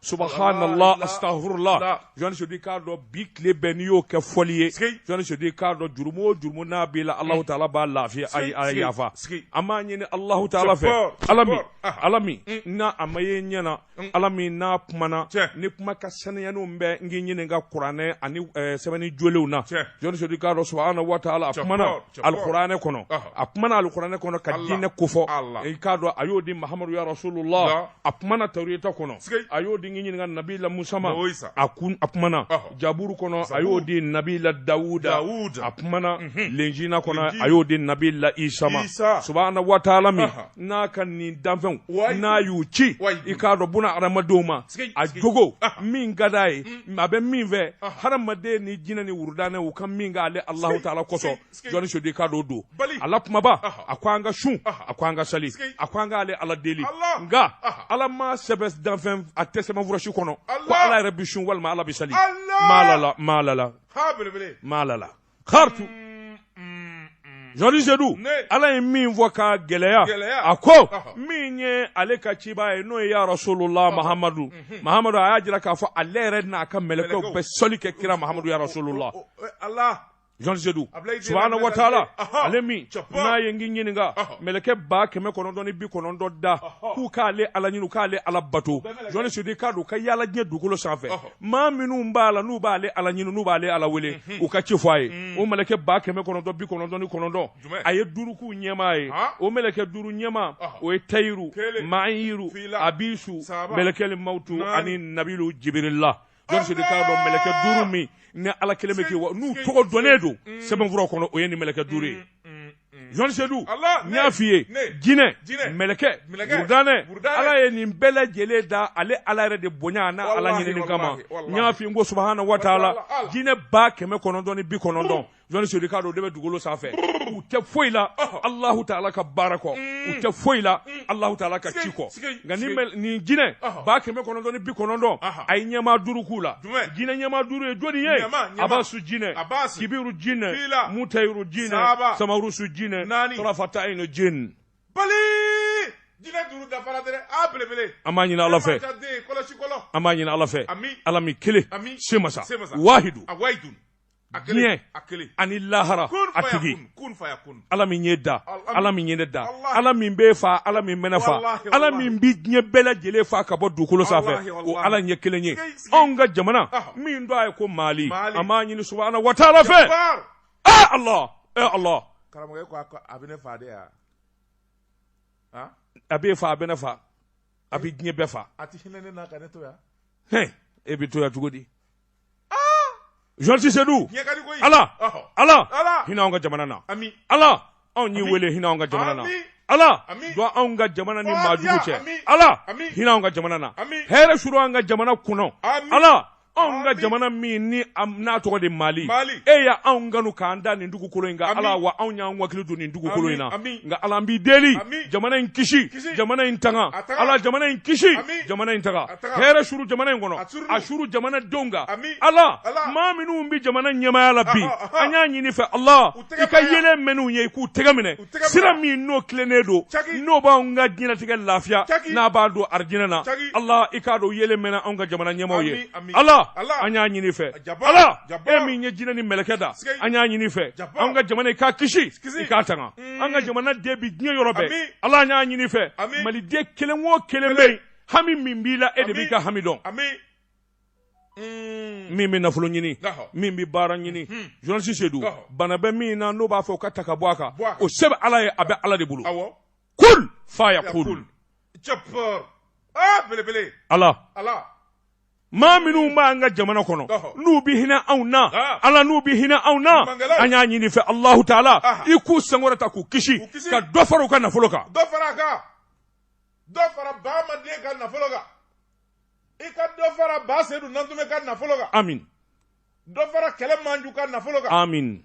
subhanallah astafirullah jɔn sedu k'a dɔn bi tile bɛɛ n'i y'o kɛ fɔli ye jɔn sedu k'a dɔn jurumu o jurumu n'a b'i la alahu taala b'a lafiya ayi a yafa an b'a ɲini alahu taala fɛ ala min ala min n'a a ma ye ɲɛ na ala min n'a kumana ni kuma ka saniyaniw bɛ n k'i ɲininka kuranɛ ani sɛbɛnni jolenw na jɔn sedu k'a dɔn subahana wa taala a kumana alikuranɛ kɔnɔ a kumana alikuranɛ kɔnɔ ka diinɛ kofɔ k'a dɔn a y'o di mahamadu ya rasulullah a kumana tawureta kɔnɔ a y'o di ɲininka nabila musa ma a kun a kumana jaburu kɔnɔ a y'o di nabila dawuda a kumana mhm. lenjina kɔnɔ a y'o di nabila isa ma subahana wataala min n'a ka nin danfɛnw n'a y'u ci i k'a dɔn buna adamadenw ma a jogo min ka d'a ye mm. a bɛ min fɛ hadamaden ni jinɛ ni wurudannɛ u ka min k'ale alahu taala kosɔn jɔn sedu k'a dɔn don ala kumaba a ko an ka sun a ko an ka sali a ko an k'ale ala deli nka ala ma sɛbɛn danfɛn a tɛ sɛbɛnfura si kɔnɔ ko ala yɛrɛ bi sun walima ala bi sali maalala maalala maalala kartu jɔn sedu ala ye min fɔ ka gɛlɛya a ko min ye ale ka cibaa ye n'o ye ya rasulula mahamadu mahamadu a y'a jira k'a fɔ ale yɛrɛ n'a ka mɛlɛkɛw bɛ sali kɛ kira mahamadu ya rasulula jɔn sedu subahana wataala ale min n'a ye n k'i ɲininka mɛlɛkɛ ba kɛmɛ kɔnɔntɔn ni bi kɔnɔntɔn da k'u k'ale ala ɲini k'ale ala bato jɔn sedu k'a dɔn ka yaala diɲɛ dugukolo sanfɛ maa minnu b'a la n'u b'ale ala ɲini n'u b'ale ala wele mhm. u ka ci fɔ a ye mhm. o mɛlɛkɛ ba kɛmɛ kɔnɔntɔn bi kɔnɔntɔn ni kɔnɔntɔn a ye duuru k'u ɲɛmaa ye o mɛlɛkɛ duuru ɲɛmaa o ye tayiru maayiru abisu mɛlɛkɛli mawutu ani nabilu jibirila Jɔn Sedu k'a dɔn mɛlɛkɛ duuru min ni Ala kelen bɛ k'i wa n'u tɔgɔ dɔnnen don sɛbɛnfuraw kɔnɔ o ye nin mɛlɛkɛ duuru ye Jɔn Sedu n y'a f'i ye jinɛ mɛlɛkɛ wurudannɛ Ala ye nin bɛɛ lajɛlen da ale Ala yɛrɛ de bonya an'a Ala ɲinini kama n y'a f'i ye n ko subahana wataala jinɛ ba kɛmɛ kɔnɔntɔn ni bi kɔnɔntɔn jɔn sedu k'a dɔn o de bɛ dugukolo sanfɛ u tɛ foyi la alahu taala ka baara kɔ u tɛ foyi la alahu taala ka ci kɔ nka nin jinɛ ba kɛmɛ kɔnɔntɔn ni bi kɔnɔntɔn a ye ɲɛmaa duuru k'u la jinɛ ɲɛmaa duuru ye jɔnni ye abasu jinɛ kibiru jinɛ mutayiru jinɛ samarusu jinɛ tɔrɔfata ayinu jinɛ bali jinɛ duuru dafara dɛ a belebele an b'a ɲini ala fɛ an b'a ɲini ala fɛ ala min kelen se masa wahidu diɲɛ ani lahara a tigi ala min y'e da ala min ye ne da ala min b'e fa ala min bɛ ne fa ala min bɛ diɲɛ bɛɛ lajɛlen fa ka bɔ dugukolo sanfɛ o ala ye kelen ye anw ka jamana min don a ye ko mali an b'a ɲini subahana wataala fɛ ee ala ee ala karamɔgɔ ko a bɛ ne fa de yan a b'e fa a bɛ ne fa a bɛ diɲɛ bɛɛ fa a tɛ hinɛ ne na ka ne to yan e bɛ to yan cogo di journaliste sedu ala ala hinɛ anw ka jamana na ala anw y'e weele hinɛ anw ka jamana na ala jɔn anw ka jamana ni maj cɛ ala hinɛ anw ka jamana na hɛrɛ suru an ka jamana kɔnɔ ala anw ka jamana min ni n'a tɔgɔ de mali e y' anw kanu k'an da nin dugukolo in ala wa anw y'an wakili don nin dugukolo in na nka ala an b'i deli jamana in kisi jamana in tanga ala jamana in kisi jamana in tanga hɛrɛ suru jamana in kɔnɔ a suru jamana denw kan ala maa minnu bɛ jamana ɲɛmaaya la bi an y'a ɲini fɛ ala i ka yeelen mɛn'u ye i k'u tɛgɛ minɛ sira min n'o tilennen don n'o b'an ka diɲɛnatigɛ lafiya n'a b'an don arijinɛ na ala i k'a dɔn yeelen mɛnɛ anw ka jamana ɲɛmaaw ye ala an y'a ɲini fɛ ala e min ye jinɛ ni mɛlɛkɛ da an y'a ɲini fɛ an ka jamana i k'a kisi i k'a tanga an ka jamana den bɛ diɲɛ yɔrɔ bɛɛ ala an y'a ɲini fɛ maliden kelen o kelen bɛ yen hami min b'i la e de b'i ka hami dɔn Mm. min bɛ nafolo ɲini min bɛ baara ɲini mm-hmm. journaliste sedu bana bɛ min na n'o b'a fɛ o ka ta ka bɔ a kan o se bɛ ala ye a bɛ ala de bolo kul fa ya kul ala maa minnu b'an ka jamana kɔnɔ n'u bɛ hinɛ anw na ala n'u bɛ hinɛ anw na an y'a ɲini fɛ alahu taala i k'u sankɔrɔta k'u kisi ka dɔ fara u ka nafolo kan dɔ fara a kan dɔ fara baamaden ka nafolo kan i ka dɔ fara ba sedu nantume ka nafolo kan amin dɔ fara kɛlɛ manju ka nafolo kan amin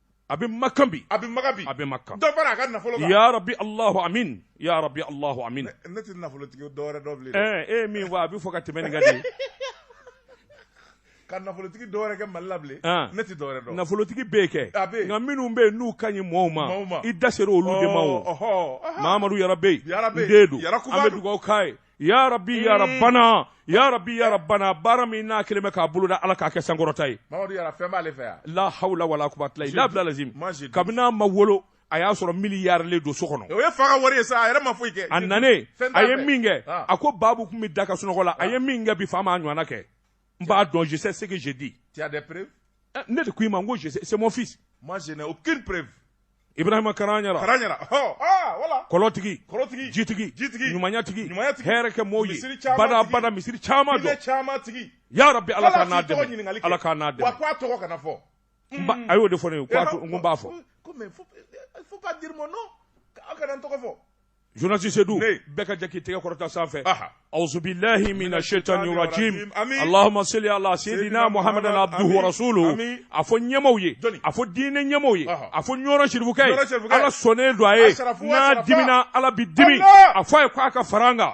a bɛ makan bi a bɛ makan bi a bɛ makan dɔ fara a ka nafolo kan ya rabbi allahu amin ya rabbi allahu amin ne tɛ nafolotigi dɔwɛrɛ dɔn bilen ɛɛ e ye min fɔ a bɛ fo ka tɛmɛ nin kan de ko nafolotigi dɔwɛrɛ tɛ mali la bilen ne tɛ dɔwɛrɛ dɔn nafolotigi bɛ kɛ a bɛ nka minnu bɛ yen n'u ka ɲi mɔɔw ma i da sera olu de ma o mamadu yara bɛ yen n den don an bɛ dugawu k'a ye ya rabbi ya rabbana ya rabbi ya rabbana baara min n'a kelen bɛ k'a boloda ala k'a kɛ sankɔrɔta ye la hawla wala quwwata illa billah lazim kabini n'a ma wolo a y'a sɔrɔ miliyari le don so kɔnɔ o ye fa ka wari ye sa a yɛrɛ ma foyi kɛ a nanen a ye min kɛ a ko baabu tun bɛ da ka sunɔgɔ la a ye min kɛ bi fa ma a ɲɔgɔnna kɛ n b'a dɔn je sais ce que je dis tu as des preuves eh, ne de ko i ma n ko je sais c'est mon fils moi je n'ai aucune preuve ibrahima karanyara karanyara oh ah voilà kolotigi kolotigi jitigi jitigi ɲumanya tigi ɲumanya tigi hɛrɛ kɛ mɔɔw ye bada bada misiri caman dɔn misiri caman tigi ya rabbi ala k'a n'a dɛmɛ ala k'a n'a dɛmɛ wa ko a tɔgɔ kana fɔ a y'o de fɔ ne ye ko n ko n b'a fɔ ko mais faut pas dire mon nom aw kana n tɔgɔ fɔ Journaliste Seydou an bɛɛ ka jɛ k'i tɛgɛ kɔrɔta sanfɛ awuzubilahi mina shetani rajim Allahuma sali ala seyidina Muhamadu abduhu wa rasuluhu a fɔ ɲɛmaaw ye a fɔ diinɛ ɲɛmaaw ye a fɔ ɲɔrɔ serifukɛ ye Ala sɔnnen don a ye n'a dimina Ala bɛ dimi a fɔ a ye k'a ka far'an kan.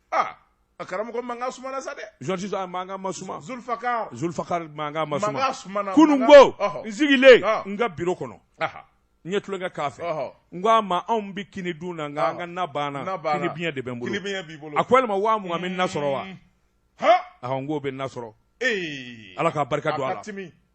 aa a karamɔgɔ mankan sumana sa dɛ jɔn jɔn mankan ma suma Zulfakar Zulfakar mankan ma suma mankan sumana kunun ko ɔhɔ. n sigilen Ɔhɔ. n ka biro kɔnɔ aha n ye tulonkɛ k'a fɛ ɔhɔ n ko a ma anw bɛ kini dun na nka an ka na banna na banna. kini biɲɛ de bɛ n bolo kini biɲɛ b'i bolo a ko yalima waa mugan bɛ na sɔrɔ wa ha ɔhɔ n k'o bɛ na sɔrɔ ee ala ka barika don a la a ka timi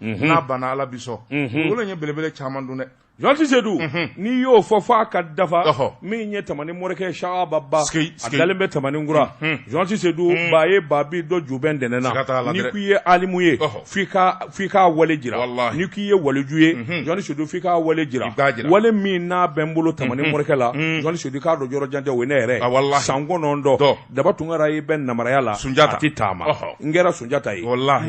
n'a banna ala bi sɔn wolo ye belebele caman dun dɛ journaliste Seydou n'i y'o fɔ fɔ a ka dafa min ye tamani morikɛ sababa a dalen bɛ tamani kura journaliste Seydou ba ye babi dɔ jubɛn ntɛnɛn na ni k'i ye alimu ye f'i k'a wale jira ni k'i ye waliju ye journaliste Seydou f'i k'a wale jira wale min n'a bɛ n bolo tamani morikɛ la journaliste Seydou k'a dɔn yɔrɔ jan tɛ o ye ne yɛrɛ san kɔnɔntɔn daba tunkara ye bɛ namaraya la sunjata tɛ taama n kɛra sunjata ye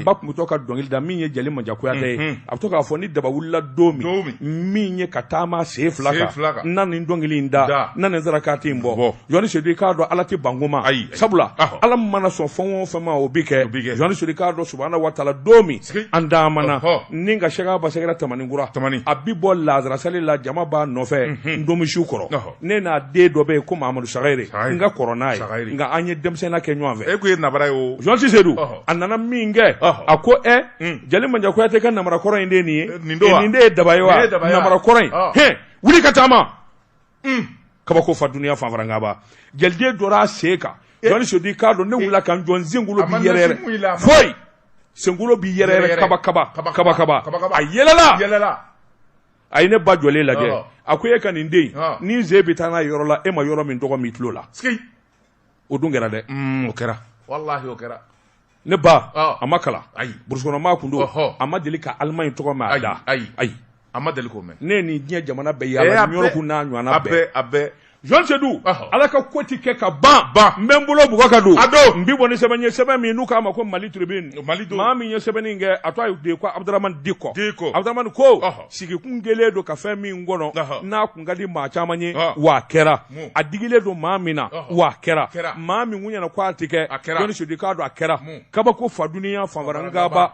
ba tun bɛ to ka dɔnkili da min ye jeli manja kuyate ye mhm. a bɛ to k'a fɔ ni daba wulila don min min ye ka taama sen fila kan n na nin dɔnkili in da n na nin sarakati in bɔ journaliste Seydou i k'a dɔn ala tɛ ban ko ma ayi sabula ala mana sɔn fɛn o fɛn ma o bɛ kɛ journaliste Seydou i k'a dɔn subahana watala don min an daamana ni ka sɛgɛ basɛgɛra tamanikura a bɛ bɔ laansarasali la jama b'a nɔfɛ mhm. ntomisun kɔrɔ ne n'a den dɔ bɛ yen ko mamadu sagayire n ka kɔrɔ n'a ye nka an ye denmisɛnninya kɛ ɲɔgɔn fɛ e kun ye nabara ye o journaliste Seydou a nana min kɛ a ko ɛ hmm. jeli manja kuyate ka namara kɔrɔ in de ye nin ye nin don wa nin de ye daba ye wa namara kɔrɔ in hɛn wuli ka taama hmm. kabako fa duniya fanfarankaba jeliden jɔra a sen kan eh. journaliste Seydou k'a dɔn ne eh. wulila ka n jɔ n senkolo bi yɛrɛyɛrɛ fo i senkolo bi yɛrɛyɛrɛ kaba kaba kaba kaba a yɛlɛla a ye ne ba jɔlen lajɛ Ɔhɔ. a ko e ka nin den Ɔn. nin sen bɛ taa n'a ye yɔrɔ la e ma yɔrɔ min tɔgɔ mɛn i tulo la sigi o dun kɛra dɛ Mm, o kɛra walahi o kɛra ne ba Ɔn. a ma kalan Ayi. burusukɔnɔmaa kun don Ɔhɔ. a ma deli ka alimaɲi tɔgɔ mɛn Ayi, abada ayi. ayi a ma deli k'o mɛn ne ye nin diɲɛ jamana bɛɛ Eh, yaala ani yɔrɔ bɛɛ- kun n'a ɲɔgɔnna a bɛɛ bɛɛ a bɛɛ journaliste Seydou ala ka ko ti kɛ ka ban ban n bɛ n bolo bugɔ ka don a don n bi bɔ ni sɛbɛn ye sɛbɛn min n'u k'a ma ko mali tribune mali don maa min ye sɛbɛnni kɛ a tɔɔ de ko abudramani diko diko abudramani ko sigi kun kɛlen don ka fɛn min kɔnɔ n'a kun ka di maa caman ye wa kɛra a digilen don maa min na wa kɛra maa min kun ɲɛna ko a tɛ kɛ journaliste Seydou i k'a dɔn a kɛra kabako fo duniya fanfara n ka ba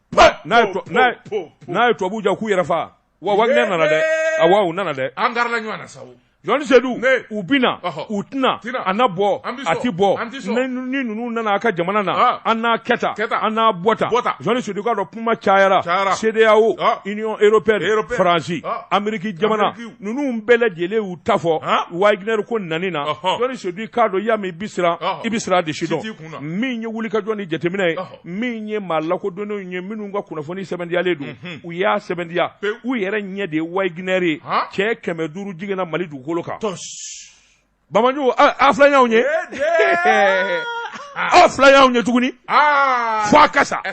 n'a ye tubabuw diya k'u yɛrɛ fa wa Wagner nana dɛ awa u nana dɛ an garila ɲɔgɔn na sa journaliste Seydou u bina u tɛna a na bɔ a ti bɔ ni ninnu nana a ka jamana na an n'a kɛ tan an na bɔ tan journaliste Seydou i k'a dɔn kuma cayara CEDEAO Union européenne faransi ameriki jamana ninnu bɛɛ lajɛlen y'u ta fɔ Wagner ko nin na journaliste Seydou i k'a dɔn y'a mɛn i bi siran i bi siran a de sidɔn min ye wulikajɔ ni jateminɛ ye min ye maa lakodɔnnenw ye minnu ka kunnafoni sɛmɛntiyalen don mhm. u y'a sɛmɛntiya u yɛrɛ ɲɛ de ye Wagner ye cɛ kɛmɛ duuru jiginna mali dugukolo kan ba maa jugu a fila y'anw ye aw fila y'anw ye tuguni ah. fo a ka sa e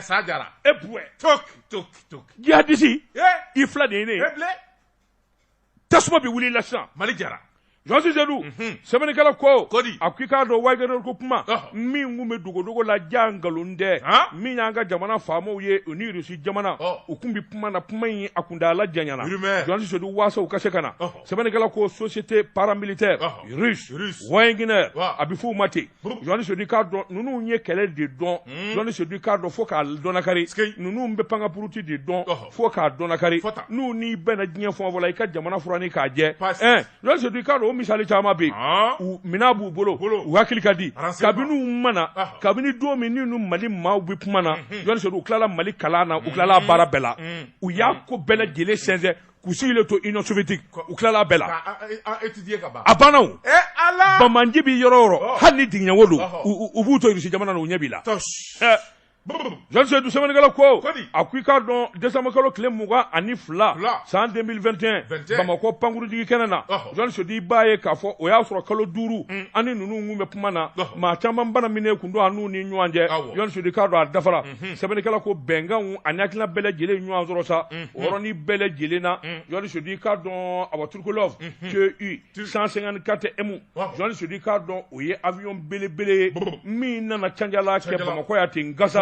jihadisi i fila de ye ne ye tasuma bɛ wuli la sisan mali diyara journaliste Seydou mhm. sɛbɛnnikɛla ko ko di a ko i k'a dɔn Wagner ko kuma min tun bɛ dogodogo la jaa nkalon tɛ min y'an ka jamana faamaw ye u ni irisi jamana u tun bɛ kuma na kuma in a kuntaala janyana journaliste Seydou waasa u ka se ka na sɛbɛnnikɛla ko société paramilitaire russe Wagner a bɛ f'u ma ten journaliste Seydou i k'a dɔn ninnu ye kɛlɛ de dɔn journaliste Seydou i k'a dɔn fo k'a dɔnakari ninnu bɛ pankapuruti de dɔn fo k'a dɔnkari n'u n'i bɛnna diɲɛ fan o fan na i ka jamana furanin k'a jɛ journaliste Seydou i k'a dɔn o misali caman bɛ yen minɛn b'u bolo u hakili ka di kabini u ma na kabini don min u ni mali maaw bɛ kuma na journaliste Seydou u tilala mali kalan na u tilala baara bɛɛ la u y'a ko bɛɛ lajɛlen sɛnsɛn k'u sigilen to union soviétique u tilala a bɛɛ la a banna o ba maa jugu bɛ yɔrɔ o yɔrɔ hali ni dingɛ wo don u b'u to irisi jamana na u ɲɛ b'i la journaliste Seydou sɛbɛnnikɛla ko a ko i k'a dɔn décembre kalo tile mugan ani fila san 2021 Bamakɔ pankurunjigikɛnɛ na journaliste Seydou i b'a ye k'a fɔ o y'a sɔrɔ kalo duuru an ni ninnu kun bɛ kuma na maa caman banamininen tun don an n'u ni ɲɔgɔn cɛ journaliste Seydou i k'a dɔn a dafara sɛbɛnnikɛla ko bɛnkanw ani hakilina bɛɛ lajɛlen ɲɔgɔn sɔrɔ sa o yɔrɔnin bɛɛ lajɛlen na journaliste Seydou i k'a dɔn awa Tupolev TU 154 M journaliste Seydou i k'a dɔn o ye avion belebele ye min nana canjala kɛ bamakɔ yan ten gasa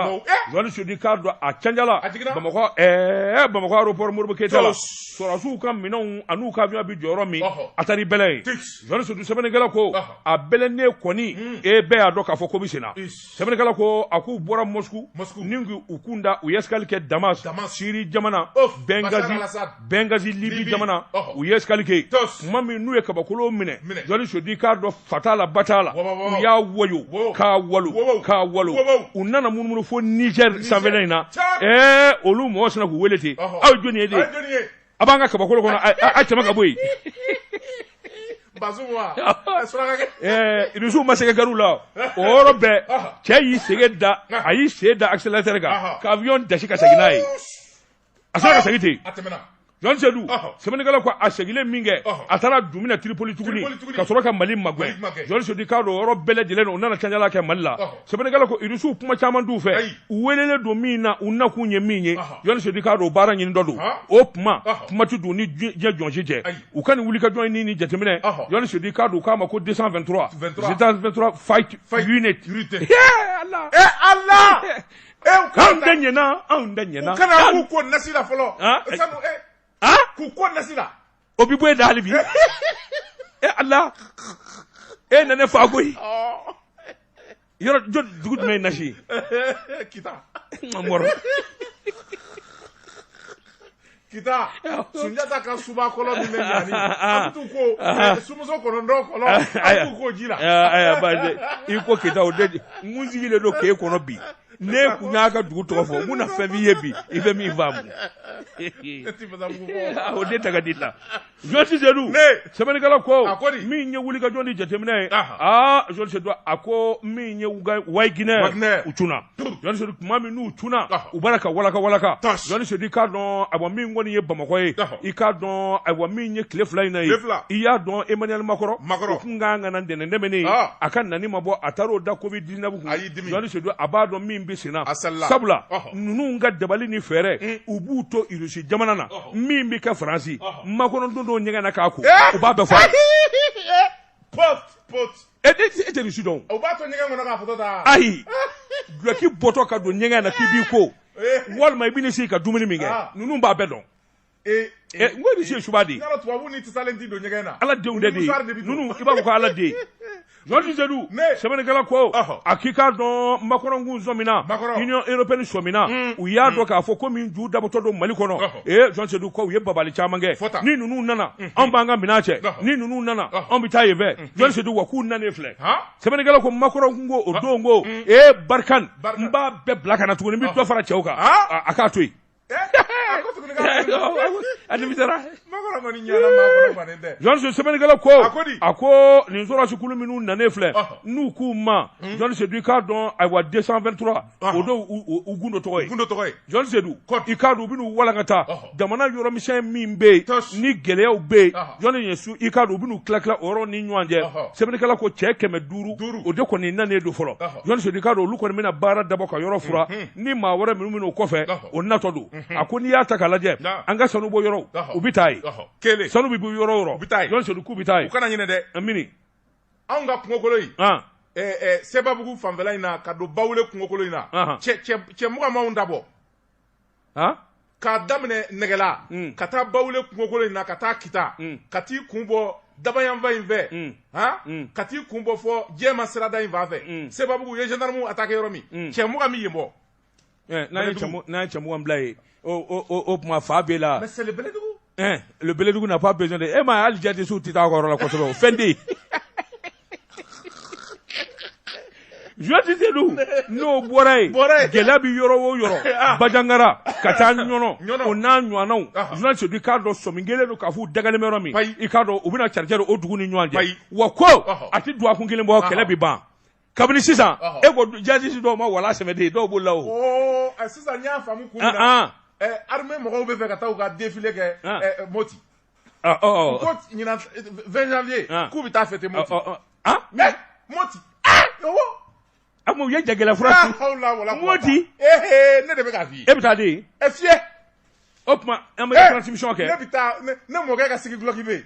journaliste Seydou i k'a dɔn a canjala bamakɔ ɛɛ bamakɔ aéroport Modibo keyita la sɔrɔsiw ka minɛnw an'u ka avion bɛ jɔ yɔrɔ min a taara i bɛlɛ yen journaliste Seydou sɛbɛnnikɛla ko a bɛlɛnnen kɔni e bɛɛ y'a dɔn k'a fɔ ko bɛ senna sɛbɛnnikɛla ko a k'u bɔra mosku mosku ni u kun da u ye escale kɛ damas damas siri jamana bɛngazi bɛngazi libi jamana u ye escale kɛ tuma min n'u ye kabakolo minɛ jɔn sedu k'a dɔn fa t'a la ba t'a la u y'a woyo k'a walo k'a walo u nana munumunu fo niger sanfɛla in na ɛɛ olu mɔgɔ sina k'u wele ten aw ye jɔni ye de a b'an ka kabakolo kɔnɔ a tɛmɛ ka bɔ yen irisiw ma sɛgɛ garu la o yɔrɔ bɛɛ cɛ y'i sen da a y'i sen da accélérateur kan ka avion dasi ka segin n'a ye a sina ka segin ten jɔn sedu sɛbɛnnikɛla ko a segilen min kɛ a taara dumuni tiripoli tuguni ka sɔrɔ ka mali magɛ jɔn sedu k'a dɔn yɔrɔ bɛɛ lajɛlen o nana cɛla kɛ mali la sɛbɛnnikɛla ko irisiw kuma caman t'u fɛ u welelen don min na u nakun ye min ye jɔn sedu k'a dɔn baaraɲini dɔ don o kuma kuma tɛ don ni diɲɛ jɔn sedu u ka nin wulikajɔ ni ni jateminɛ jɔn sedu k'a dɔn k'a ma ko desan vɛntura desan vɛntura fight unit ala e ala anw da ɲɛna anw da ɲɛna u kana k'u ko nasi la fɔlɔ k'u ko nasi la o bɛ bɔ yen dali bi e ala e na ne fa ko yɔrɔ dugu jumɛn ye nasi kita kita sunjata ka suba kɔlɔn min bɛ ɲani an t'u ko sumuso kɔnɔntɔn kɔlɔn an t'u ko ji la i ko kita o de n sigilen don k'e kɔnɔ bi ne kun y'a ka dugu tɔgɔ fɔ mun na fɛn b'i ye bi i bɛ min faamu o ne taga di la jɔn sedu sɛbɛnnikɛla ko min ye wulikajɔ ni jateminɛ ye aa jɔn sedu a ko min ye wagner u cunna jɔn sedu tuma min n'u cunna u b'a la ka walaka walaka jɔn sedu i k'a dɔn ayiwa min kɔni ye bamakɔ ye i k'a dɔn ayiwa min ye tile fila in na ye i y'a dɔn emmanuel macron u tun ka kan ka na ntɛnɛn tɛmɛnen a ka nani ma bɔ a taar'o da covid ayidu a b'a dɔn min bɛ sen na sabula ninnu ka dabali ni fɛɛrɛ mm. u b'u to rusi jamana na min bɛ kɛ faransi macron dontɔ ɲɛgɛn na k'a ko eh! u b'a bɛɛ fɔ e tɛ nin si dɔn ayi dulɔki bɔtɔ ka don ɲɛgɛn na k'i b'i ko eh! walima i bɛ sigi ka dumuni min kɛ ah. ninnu b'a bɛɛ dɔn e eh, n ko e bɛ se suba de. yala tubabu ni tasalen ti don ɲɛgɛn na. ala denw de bɛ ninnu i b'a fɔ ko ala den. jɔn sedu sɛbɛnnikɛla ko a k'i k'a dɔn makɔrɔnkun sɔmina union européenne sɔmina hmm. u y'a hmm. dɔn k'a fɔ ko min ju dabɔtɔ don mali kɔnɔ ee jɔn sedu ko u ye dabali caman kɛ ni ninnu nana hmm. anw b'an ka minɛn cɛ ni ninnu nana anw bɛ taa yen fɛ jɔn sedu wa k'u nanen filɛ sɛbɛnnikɛla ko makɔrɔnkun ko o don ko ee barkhane n b'a bɛɛ bila ka na tuguni n bɛ dɔ fara cɛw kan a k'a to yen Sɛbɛnnikɛla ko a ko nin sɔrɔdasikulu minnu nalen filɛ n'u k'u ma i k'a dɔn ayiwa décembre 23 o don u gdo sedu i k'a dɔn u bɛ walan ka taa jamana yɔrɔmisɛn min bɛ yen ni gɛlɛyaw bɛ yen i k'a dɔn u bɛ tila tila o ni ɲɔgɔn cɛ sɛbɛnnikɛla ko cɛ kɛmɛ duuru o de kɔni nalen don fɔlɔ olu kɔni bɛna baara dabɔ ka yɔrɔ ni maa wɛrɛ minnu bɛ n'o kɔfɛ o natɔ don a ko n'i y'a ta ka lajɛ an ka sanubɔyɔrɔw u bɛ taa yen sanu bɛ bɔ yɔrɔ o yɔrɔ u bɛ taa yen jɔn sedu k'u bɛ taa yen u kana ɲinɛ dɛ a mini anw ka kungokolo in sebabugu fanfɛla in na ka don bawule kungokolo in na cɛ mugan b'an ta bɔ k'a daminɛ nɛgɛla ka taa bawule kungokolo in na ka taa kita ka t'i kun bɔ daba yanfan in fɛ ka t'i kun bɔ fɔ jɛma sirada in fan fɛ sebabugu u ye gendarme attaquer yɔrɔ min cɛ mugan bɛ yen bɔ n'a ye cɛ mugan bila yen o tuma fa bɛ la bɛlɛdugu na pas besoin de e ma hali jate su tɛ taa kɔrɔ la kosɛbɛ fɛn tɛ sedu n'o bɔra yen gɛlɛya bɛ yɔrɔ o yɔrɔ ah. bajangara ka taa ɲɔnɔn o n'a ɲɔgɔnw ah. jɔn sedu i k'a dɔn sɔmi kɛlen don k'a fɔ u dagalen bɛ yɔrɔ min i k'a dɔn u bɛna cari o dugu ni ɲɔgɔn cɛ wa ko a tɛ dɔgɔkun kelen bɔ kɛlɛ bɛ ban kabini sisan e ko jazisi dɔw ma wala sɛmɛden dɔw b'o la o sisan y'a faamu kun armée mɔgɔw bɛ fɛ ka taa u ka défilé kɛ Moti ko ɲinan 20 janvier k'u bɛ taa fêter Moti mais Moti Amu u ye jagɛlɛ fura su Moti ne de bɛ k'a f'i ye e bɛ taa défiler o tuma an bɛ transmission kɛ ne bɛ taa ne mɔkɛ ka sigi dulɔki bɛ yen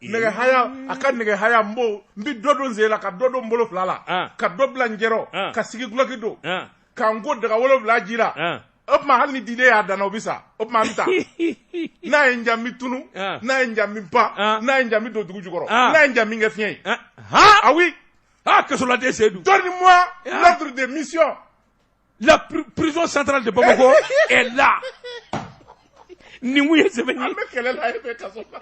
nɛgɛ haya a ka nɛgɛ haya n b'o n bɛ dɔ don n sen na ka dɔ don n bolo fila la ah. ka dɔ bila n cɛ rɔ ah. ka sigi dulɔki don ah. ka n ko daga wolonwula ji la o tuma hali ni diden y'a da n na o bɛ sa o tuma n bɛ taa n'a ye n diya n bɛ tunu n'a ye n diya n bɛ pan n'a ye n diya n bɛ don dugu jukɔrɔ n'a ye n diya n bɛ kɛ fiɲɛ ye ah oui ah kasoladen seyidu donne-moi l'ordre de mission la prison centrale de Bamako est là nin ko in ye sɛbɛ ye. an bɛ kɛlɛ la e bɛ kaso la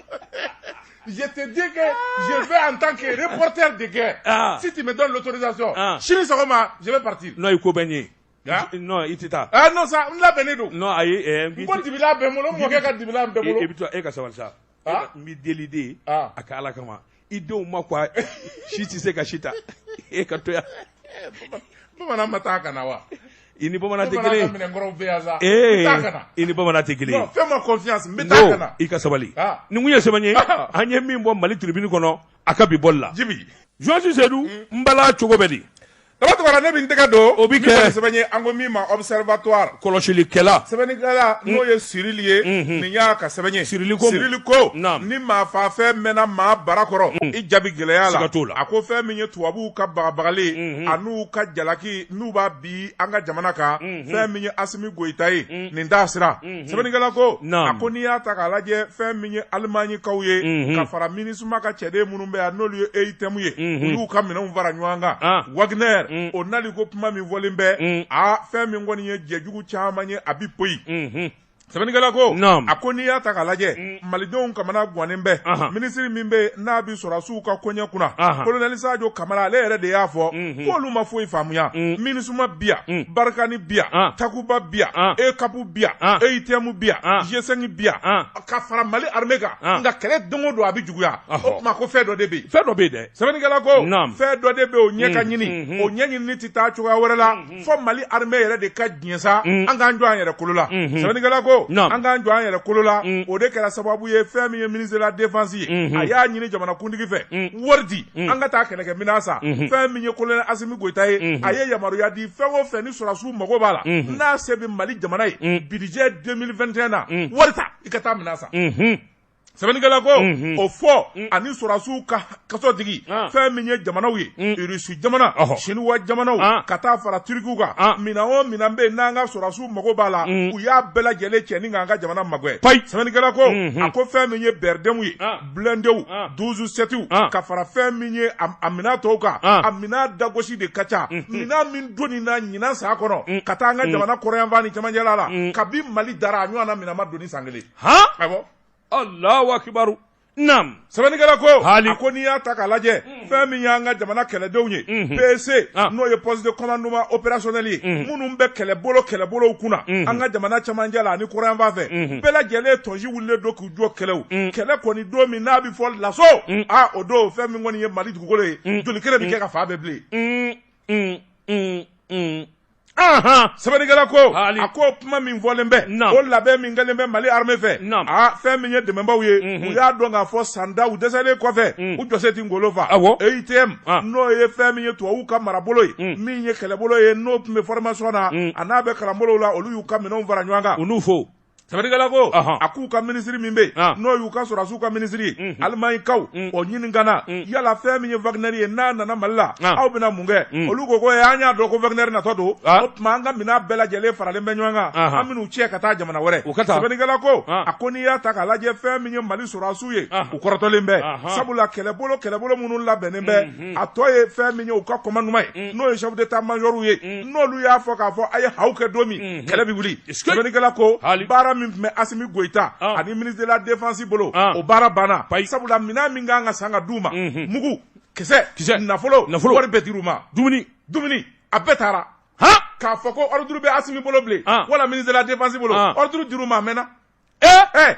je te dis que je vais en tant que reporter de guerre ah. si tu me donnes l'autorisation ah. sini sɔgɔma je vais partir. non i ko bɛ n ye. Ah? non i tɛ taa. ah non sa n labɛnnen don. non ayi. n ko dibila bɛ n bolo n mɔkɛ ka dibila bɛ n bolo. i bɛ to e ka sabali sa. ah. n b'i deli de ye ah. a kɛ ala kama i denw ma ko si tɛ se ka si ta e ka to yan eh, bamanan ma taa ka na wa i ni bamanan tɛ kelen ee i ni bamanan tɛ kelen i ka sabali ah. nin ko in ye sɛbɛ ye an ye min bɔ mali tribune kɔnɔ a ka bi bɔli la jɔnsi sedu n bala cogo bɛ di Tɔgɔ tɔgɔ la ne bɛ n tɛgɛ don. O bɛ kɛ. Min kɔni sɛbɛn ye an ko min ma observatoire. Kɔlɔsilikɛla. Sɛbɛnnikɛla n'o ye Sirili ye. Nin y'a ka sɛbɛn ye. Sirili ko. Sirili ko. Naamu. Ni maa faafɛn mɛnna maa bara kɔrɔ. I ja bɛ gɛlɛya a la. Siga t'o la. A ko fɛn min ye tubabuw ka bagabagali. An'u ka jalaki n'u b'a bin an ka jamana kan. Fɛn min ye Asimi Goyita ye. Nin t'a siran. sɛbɛnnikɛla ko a ko n'i y'a ta k'a lajɛ fɛn min ye alimanikaw ye ka fara minisuma ka cɛden minnu bɛ yan n'olu ye EUTM ye u y'u ka minɛnw fara ɲɔgɔn kan ah. waginɛri o nali ko kuma min fɔlen bɛ a fɛn min kɔni ye jɛjugu caman ye a bɛ poyi sɛbɛnnikɛla ko a ko n'i y'a ta k'a lajɛ mm. malidenw kamana gannen bɛ minisiri min bɛ yen n'a bɛ sɔrɔdasiw ka koɲɛ kunna kolonɛli sajo kamara ale yɛrɛ de y'a fɔ mm-hmm. k'olu ma foyi faamuya mm. minisuma bɛ yan mm. barikani bɛ yan takuba bɛ yan EUCAP bɛ yan EUTM bɛ yan G5 bɛ yan ka fara mali armée kan nka kɛlɛ don o don a bɛ juguya o tuma ko fɛn dɔ de bɛ yen fɛn dɔ bɛ yen dɛ sɛbɛnnikɛla ko fɛn dɔ de bɛ yen o ɲɛ ka ɲini o ɲɛɲini tɛ taa cogoya wɛrɛ la fo mali armée yɛrɛ de ka diɲɛ sa an k'an jɔ an yɛrɛ kolo la sɛbɛnnikɛla ko an k'an jɔ an yɛrɛ kolo la o de kɛra sababu ye fɛn min ye ministre de la défense ye a y'a ɲini jamanakuntigi fɛ wari di an ka taa kɛlɛkɛminɛn san fɛn min ye kolonɛli asimi goyita ye a ye yamaruya di fɛn o fɛn sɔrɔdasiw mago b'a la n'a se bɛ mali jamana ye budget deux mille vingt et un na wari i ka taa minɛn san sɛbɛnnikɛla ko o fɔ ani sɔrɔdasiw ka so digi fɛn min ye jamanaw ye irisi jamana siniwa jamanaw ka taa fara tirikiw kan minɛn o minɛn bɛ yen n'an ka sɔrɔdasiw mago b'a la u y'a bɛɛ lajɛlen cɛ ni k'an ka jamana magɛn sɛbɛnnikɛla ko a ko fɛn min ye BRDM ye blindéw douze septw ka fara fɛn min ye a minɛn tɔw kan a minɛn dagosi de ka ca minɛn min don nin na ɲinan san kɔnɔ ka taa an ka jamana kɔrɔnyanfan ni cɛmancɛla la kabi mali dara a ɲɔgɔnna minɛn ma don ni san kelen awɔ alahu akibaru naam sɛbɛnnikɛla ko a ko n'i y'a ta k'a lajɛ fɛn min y'an ka jamana kɛlɛdenw ye PC ah. n'o ye poste de commandement opérationnel ye mm. minnu bɛ kɛlɛbolo kɛlɛbolow kunna mm. an ka jamana camancɛ la ani kɔrɔnyanfan fɛ mm-hmm. bɛɛ lajɛlen tɔnsi wulilen don k'u jɔ kɛlɛw mm. kɛlɛ kɔni don min n'a bɛ fɔ l'assaut a ah, o don fɛn min kɔni ye mali dugukolo ye jolikɛnɛ bɛ kɛ k'a fan bɛɛ bilen sɛbɛnnikɛla ko a ko kuma min fɔlen bɛ o labɛn min kɛlen bɛ mali armée fɛ a fɛn min ye dɛmɛbaaw ye mhm. u y'a dɔn k'a fɔ san tan u dɛsɛlen kɔfɛ mm. u jɔsen tɛ ngolo fa EUTM n'o ye fɛn min ye tubabuw ka marabolo ye mm. min ye kɛlɛbolo ye n'o tun bɛ formation na mm. a n'a bɛ kalanbolow la olu y'u ka minɛnw fara ɲɔgɔn kan u n'u fo Sɛbɛnnikɛla ko a k'u ka minisiri min bɛ yen n'o y'u ka sɔrɔdasiw ka minisiri ye alimanikaw o ɲininkana yala fɛn min ye waginɛri ye n'a nana mali la aw bɛna mun kɛ olu ko ko an y'a dɔn ko waginɛri natɔ don o tuma an ka minɛn bɛɛ lajɛlen faralen bɛ ɲɔgɔn kan an minɛnw cɛ ka taa jamana wɛrɛ u ka taa sɛbɛnnikɛla ko a ko n'i y'a ta k'a lajɛ fɛn min ye mali sɔrɔdasiw ye u kɔrɔtɔlen bɛ sabula kɛlɛbolo kɛlɛbolo minnu labɛnnen bɛ Mm. a tɔ ye fɛn min ye u ka commandement ye mm. n'o ye chef d'état major ye mm. n'olu y'a fɔ k'a fɔ a ye haw kɛ don min mm-hmm. kɛlɛ bɛ wuli sɛbɛnnikɛla ko baara min tun bɛ Asimi Goyita ah. ani ministre de la défense bolo ah. o baara banna sabula minɛn min kan ka san ka d'u ma mm-hmm. mugu kisɛ nafolo wari bɛɛ dir'u ma dumuni dumuni a bɛɛ taara k'a fɔ ko ordre bɛ Asimi bolo bilen ah. wala ministre de la défense bolo ordre dir'u ma a mɛnna ee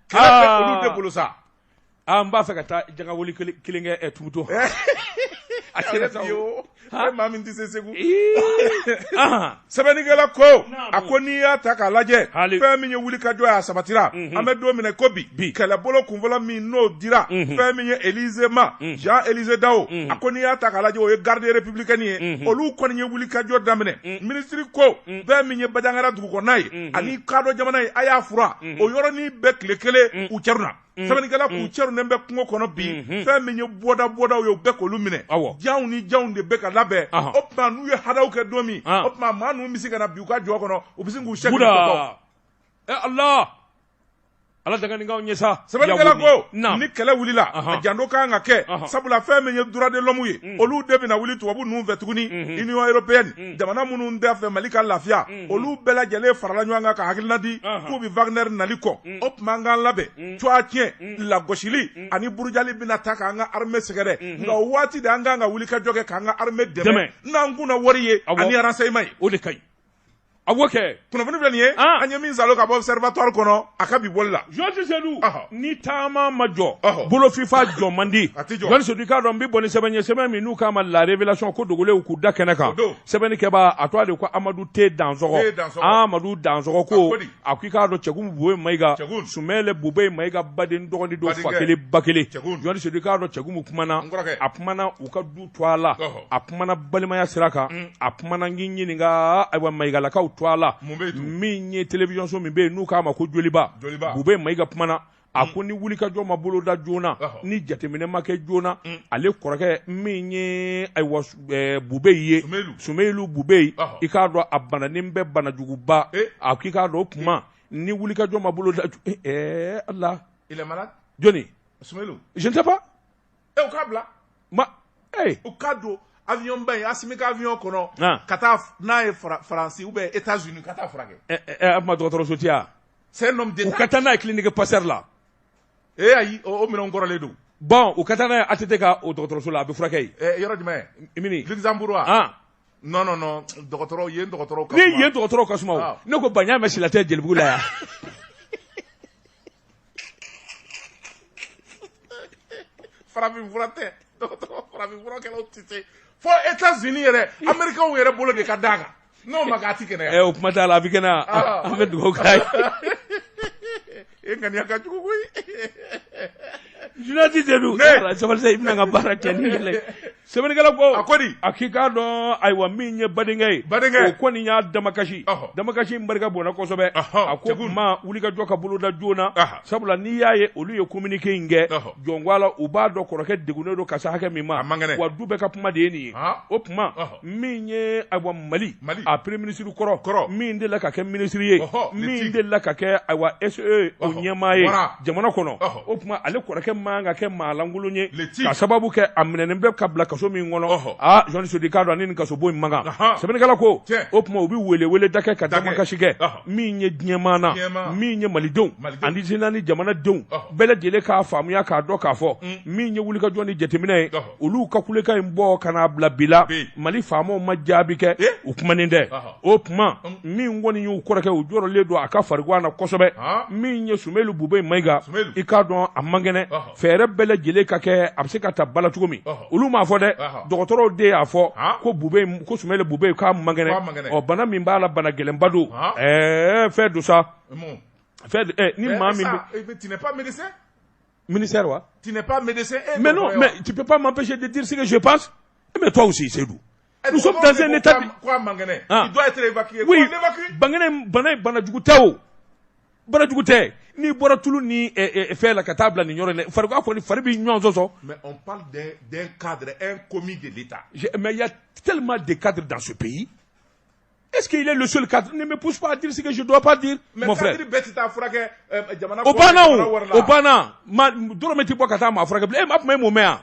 kɛlɛ bɛ olu de bolo sa Aa n b'a fɛ ka taa jaka wuli kelen kɛ ɛ tuguto a kɛra sa o e maa min tɛ se segu sɛbɛnnikɛla ko a ko n'i y'a ta k'a lajɛ fɛn min ye wuli ka jɔ y'a sabatira an bɛ don min na ko bi kɛlɛbolo kunfɔlɔ min n'o dira fɛn min ye Élisée ma Jean Élisée Dao a ko n'i y'a ta k'a lajɛ o ye garde républicaine ye olu kɔni ye wuli ka jɔ daminɛ ministre ko fɛn min ye bajangara dugu kɔnɔna ye ani kadɔ jamana ye a y'a furan o yɔrɔnin bɛɛ kelen kelen k'u cɛrun sɛbɛnnikɛla k'u cɛrunnen bɛ kungo kɔnɔ bi fɛn min ye bɔda bɔdaw ye u bɛɛ k'olu minɛ janw ni janw de bɛ ka labɛn o tuma n'u ye hadaw kɛ don min o tuma maa ninnu bɛ se ka na bin u ka jɔ kɔnɔ u bɛ se k'u sɛ ala ala dankaw ɲɛ sa sɛbɛnnikɛla ko ni kɛlɛ wulila a janto ka kan ka kɛ sabula fɛn min ye droits de l'homme ye olu de bɛna wuli tubabu ninnu fɛ tuguni Union européenne jamana minnu t'a fɛ mali ka lafiya olu bɛɛ lajɛlen farala ɲɔgɔn kan ka hakilina di k'u bɛ Wagner nali kɔn o tuma an ka labɛn tɔgɔtiɲɛ lagosili ani burujali bɛna taa k'an ka armée sɛgɛrɛ nka waati de an ka kan ka wuli ka jɔ kɛ k'an ka armée dɛmɛ n'an kun wari ye ani renseignement ye o de ka kan ka kɛ kunnafoni filɛ nin ye an ye min sɔrɔ ka bɔ Observatoire kɔnɔ a ka bi bɔli la jɔni sedu ni taama ma jɔ bolofifa jɔ man di sedu i k'a dɔn n bɛ bɔ ni sɛbɛn ye sɛbɛn min n'u k'a ma La Révélation ko dogolenw k'u da kɛnɛ kan sɛbɛnnikɛbaa a tɔgɔ de ko amadu te dansɔgɔ amadu dansɔgɔ ko a ko i k'a dɔn cɛgumu bube mayiga sumeyilu bube mayiga baden dɔgɔnin don fa kelen ba kelen jɔni sedu i k'a dɔn cɛgumu kumana a kumana u ka du tɔgɔ la a kumana balimaya sira kan mm. a kumana n k'i ɲininka ayiwa mayigalakaw tɔgɔ la min ye television so min bɛ yen n'u k'a ma ko joliba bube mayiga kumana a ko ni wulikajɔ ma boloda joona ni jateminɛ ma kɛ joona ale kɔrɔkɛ min ye ayiwa bube ye sumeyilu bube i k'a dɔn a bananen bɛ banajuguba a k'i k'a dɔn o tuma ni wulikajɔ ma boloda ɛɛ ala jɔnni je ne sais pas e u k'a bila ma ee u k'a don avion ba in Asimi ka avion kɔnɔ ah. ka taa n'a ye Faransi ou bien États-Unis ka taa furakɛ ɛ eh, ɛ a kuma dɔgɔtɔrɔso ti a c'est un homme d'État u ka taa n'a ye clinique Pasteur la ee ayi o minɛnw kɔrɔlen don bon u ka taa n'a ye ATT ka o dɔgɔtɔrɔso la a bɛ furakɛ yen ɛ yɔrɔ jumɛn mini Luxembourg wa ah. non non non dɔgɔtɔrɔw yen dɔgɔtɔrɔw ka suma ni yen dɔgɔtɔrɔw ka suma o ah. ne ko ba n y'a mɛn sila tɛ jelibugu la yan farafin fura tɛ dɔgɔtɔrɔ farafin furakɛlaw tɛ se fo États-Unis yɛrɛ Américains yɛrɛ bolo de ka d'a kan n'o ma kɛ a tɛ kɛnɛya. ɛ o kuma t'a la a bɛ kɛnɛya ah. an bɛ dugawu k'a ye. e ŋaniya ka jugu koyi. journaliste de don sabali sa i bɛna n ka baara kɛ ni yɛlɛ. Sɛbɛnnikɛla ko, a ko di? A k'i k'a dɔn ayiwa min ye badenkɛ ye, badenkɛ, o kɔni y'a damakasi, ɔhɔ, damakasi in barika bonyana kosɛbɛ, ɔhɔ, a ko o tuma wulikajɔ ka boloda joona, ɔhɔ, sabula n'i y'a ye olu ye communiqué in kɛ, ɔhɔ, jɔn ko Ala u b'a dɔn kɔrɔkɛ degunnen don ka se hakɛ min ma, a man kɛnɛ, wa du bɛɛ ka kuma de ye nin ye, ɔhɔ, o tuma, ɔhɔ, min ye ayiwa Mali, Mali, a premier ministre kɔrɔ, kɔrɔ, min delila ka kɛ minisiri ye, ɔhɔ, min delila ka kɛ ayiwa SE o ɲɛmaa ye, wara jamana kɔnɔ o tuma ale kɔrɔkɛ man ka kɛ maa lankolon ye ka sababu kɛ a minɛnen bɛ ka bila kaso min kɔnɔ aa jɔni sedu i k'a dɔn a ni nin kasobon in man kan sɛbɛnnikɛla ko o tuma u bɛ weleweleda kɛ ka damakasi kɛ min ye diɲɛmaa na min ye malidenw ani zi ni jamanadenw bɛɛ lajɛlen k'a faamuya k'a dɔn k'a fɔ mm. min ye wulikajɔ ni jateminɛ ye olu ka kulekan in bɔ ka n'a bila bila mali faamaw ma jaabi kɛ u kumanen tɛ o tuma min kɔni y'u kɔrɔkɛ u jɔrɔlen don a ka farigan na kosɛbɛ min ye Sumeyilu Bubɛyi Mayiga i k'a dɔn a man kɛnɛ fɛɛrɛ bɛɛ lajɛlen ka kɛ a bɛ se ka ta bala cogo min olu m'a fɔ dɛ dɔgɔtɔrɔw de y'a fɔ ko Bubɛyi ko Sumeyilu Bubɛyi k'a man kɛnɛ ɔ bana min b'a la bana gɛlɛnba don ɛɛ fɛn don sa fɛn ni maa min ministère wa tu n'es pas médecin mais non mais tu peux pas m'empêcher de dire ce que je pense mais toi aussi Seydou Nous sommes dans un État bi, ko a man kɛnɛ, il doit être évacué, oui, bangenin, bana in bana jugu tɛ o, bana jugu tɛ, n'i bɔra tulu ni fɛn la ka taa bila nin yɔrɔ in na, fari kɔni fari bɛ ɲɔgɔn sɔsɔ, mais on parle d'un cadre, un commis de l'Etat, mais il y a tellement de cadres dans ce pays est ce qu'il est le seul cadre ne me pousse pas à dire ce que je ne dois pas dire mais mon frère o banna o o banna dɔrɔmɛ tɛ bɔ ka taa maa furakɛ bilen e ma kuma e m'o mɛn wa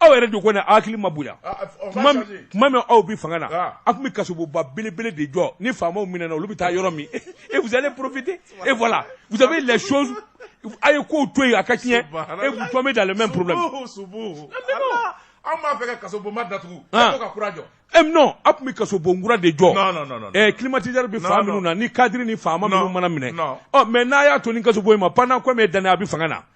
aw yɛrɛ de kɔni aw hakili ma bonya ah, ah, oh, tuma min aw bɛ fanga na ah. aw tun bɛ kasobonba belebele de jɔ ni faamaw minɛna olu bɛ taa yɔrɔ min et vous allez profiter et voilà vous avez les choses a ye kow to yen a ka tiɲɛ et vous tombez dans le même problème. anw b'a fɛ ka kasobonba datugu e ko ka kura jɔ. Eh, non a tun bɛ kasobon kura de jɔ. non non non. Eh, climatiseur bɛ fan minnu na ni cadres ni faama minnu mana minɛ. ɔ oh, mais n'a y'a to ni kasobon in ma pendant combien d'années a bɛ fanga na.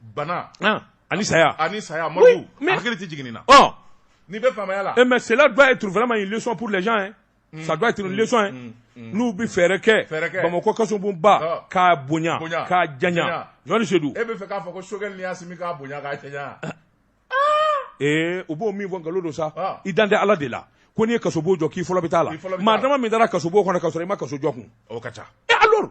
bana ani saya ani saya mori mais hakili tɛ jigin na ɔ n'i bɛ faamaya la mais cela doit être vraiment une leçon pour les gens hein mm. ça doit être une mm. leçon hein mm. mm. n'u bɛ fɛɛrɛ kɛ bamakɔ kasobonba k'a bonya k'a janya jɔni sedu e b'a fɛ k'a fɔ ko Sogɛli ni Asimi k'a bonya k'a janya ah. ee u b'o min fɔ nkalon don sa ah. i dalen tɛ ala de la ko n'i ye kasobon jɔ k'i fɔlɔ bɛ t'a la maa dama min taara kasobon kɔnɔ ka sɔrɔ i ma kaso jɔ kun o ka ca e alors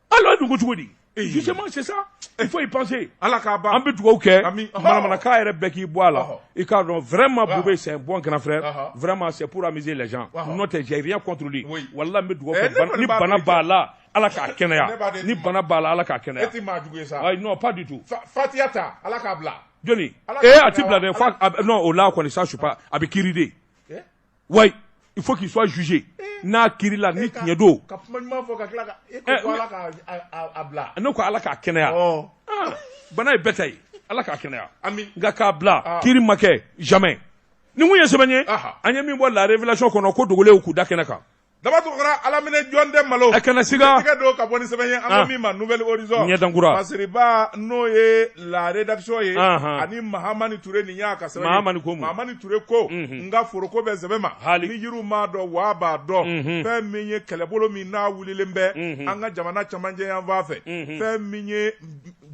ala dugu cogo di justement c'est ça il faut y penser ala k'a ban an bɛ dugawu kɛ manamanakan yɛrɛ bɛɛ k'i bɔ a la i k'a dɔn vraiment Boubé c'est un bon grand frère vraiment c'est pour amuser les gens n'o tɛ j'ai rien contre lui walahi n bɛ dugawu kɛ ni bana b'a la ala k'a kɛnɛya ni bana b'a la ala k'a kɛnɛya e tɛ maa jugu ye sa ayi non pas du tout fatiya ta ala k'a bila joona ee a tɛ bila dɛ fo non o la kɔni ça je suis pas a bɛ kiiri de wa il faut qu'il soit jugé n'a kirila ni tiɲɛ don ne ko ala k'a kɛnɛya ah, bana ye bɛɛ ta ye ala k'a kɛnɛya nka k'a bila ah. kiri ma kɛ jamais ni mun ye sɛbɛn ye an ye min bɔ la révélation kɔnɔ ko dogolenw k'u da kɛnɛ kan Daba Tunkara ala minɛ jɔn tɛ malo a kana s don ka bɔ ni sɛbɛn ye an ko min ma Nouvel Horizon ɲɛdankura masiriba n'o ye la rédaction ye ani mahamani ture nin y'a ka sɛbɛn ye mahamani ture ko n ka foroko bɛ sɛbɛn ma hali ni yiriw m'a dɔn waa b'a dɔn fɛn min ye kɛlɛbolo min n'a wililen bɛ an ka jamana camancɛ yanfan fɛ fɛn min ye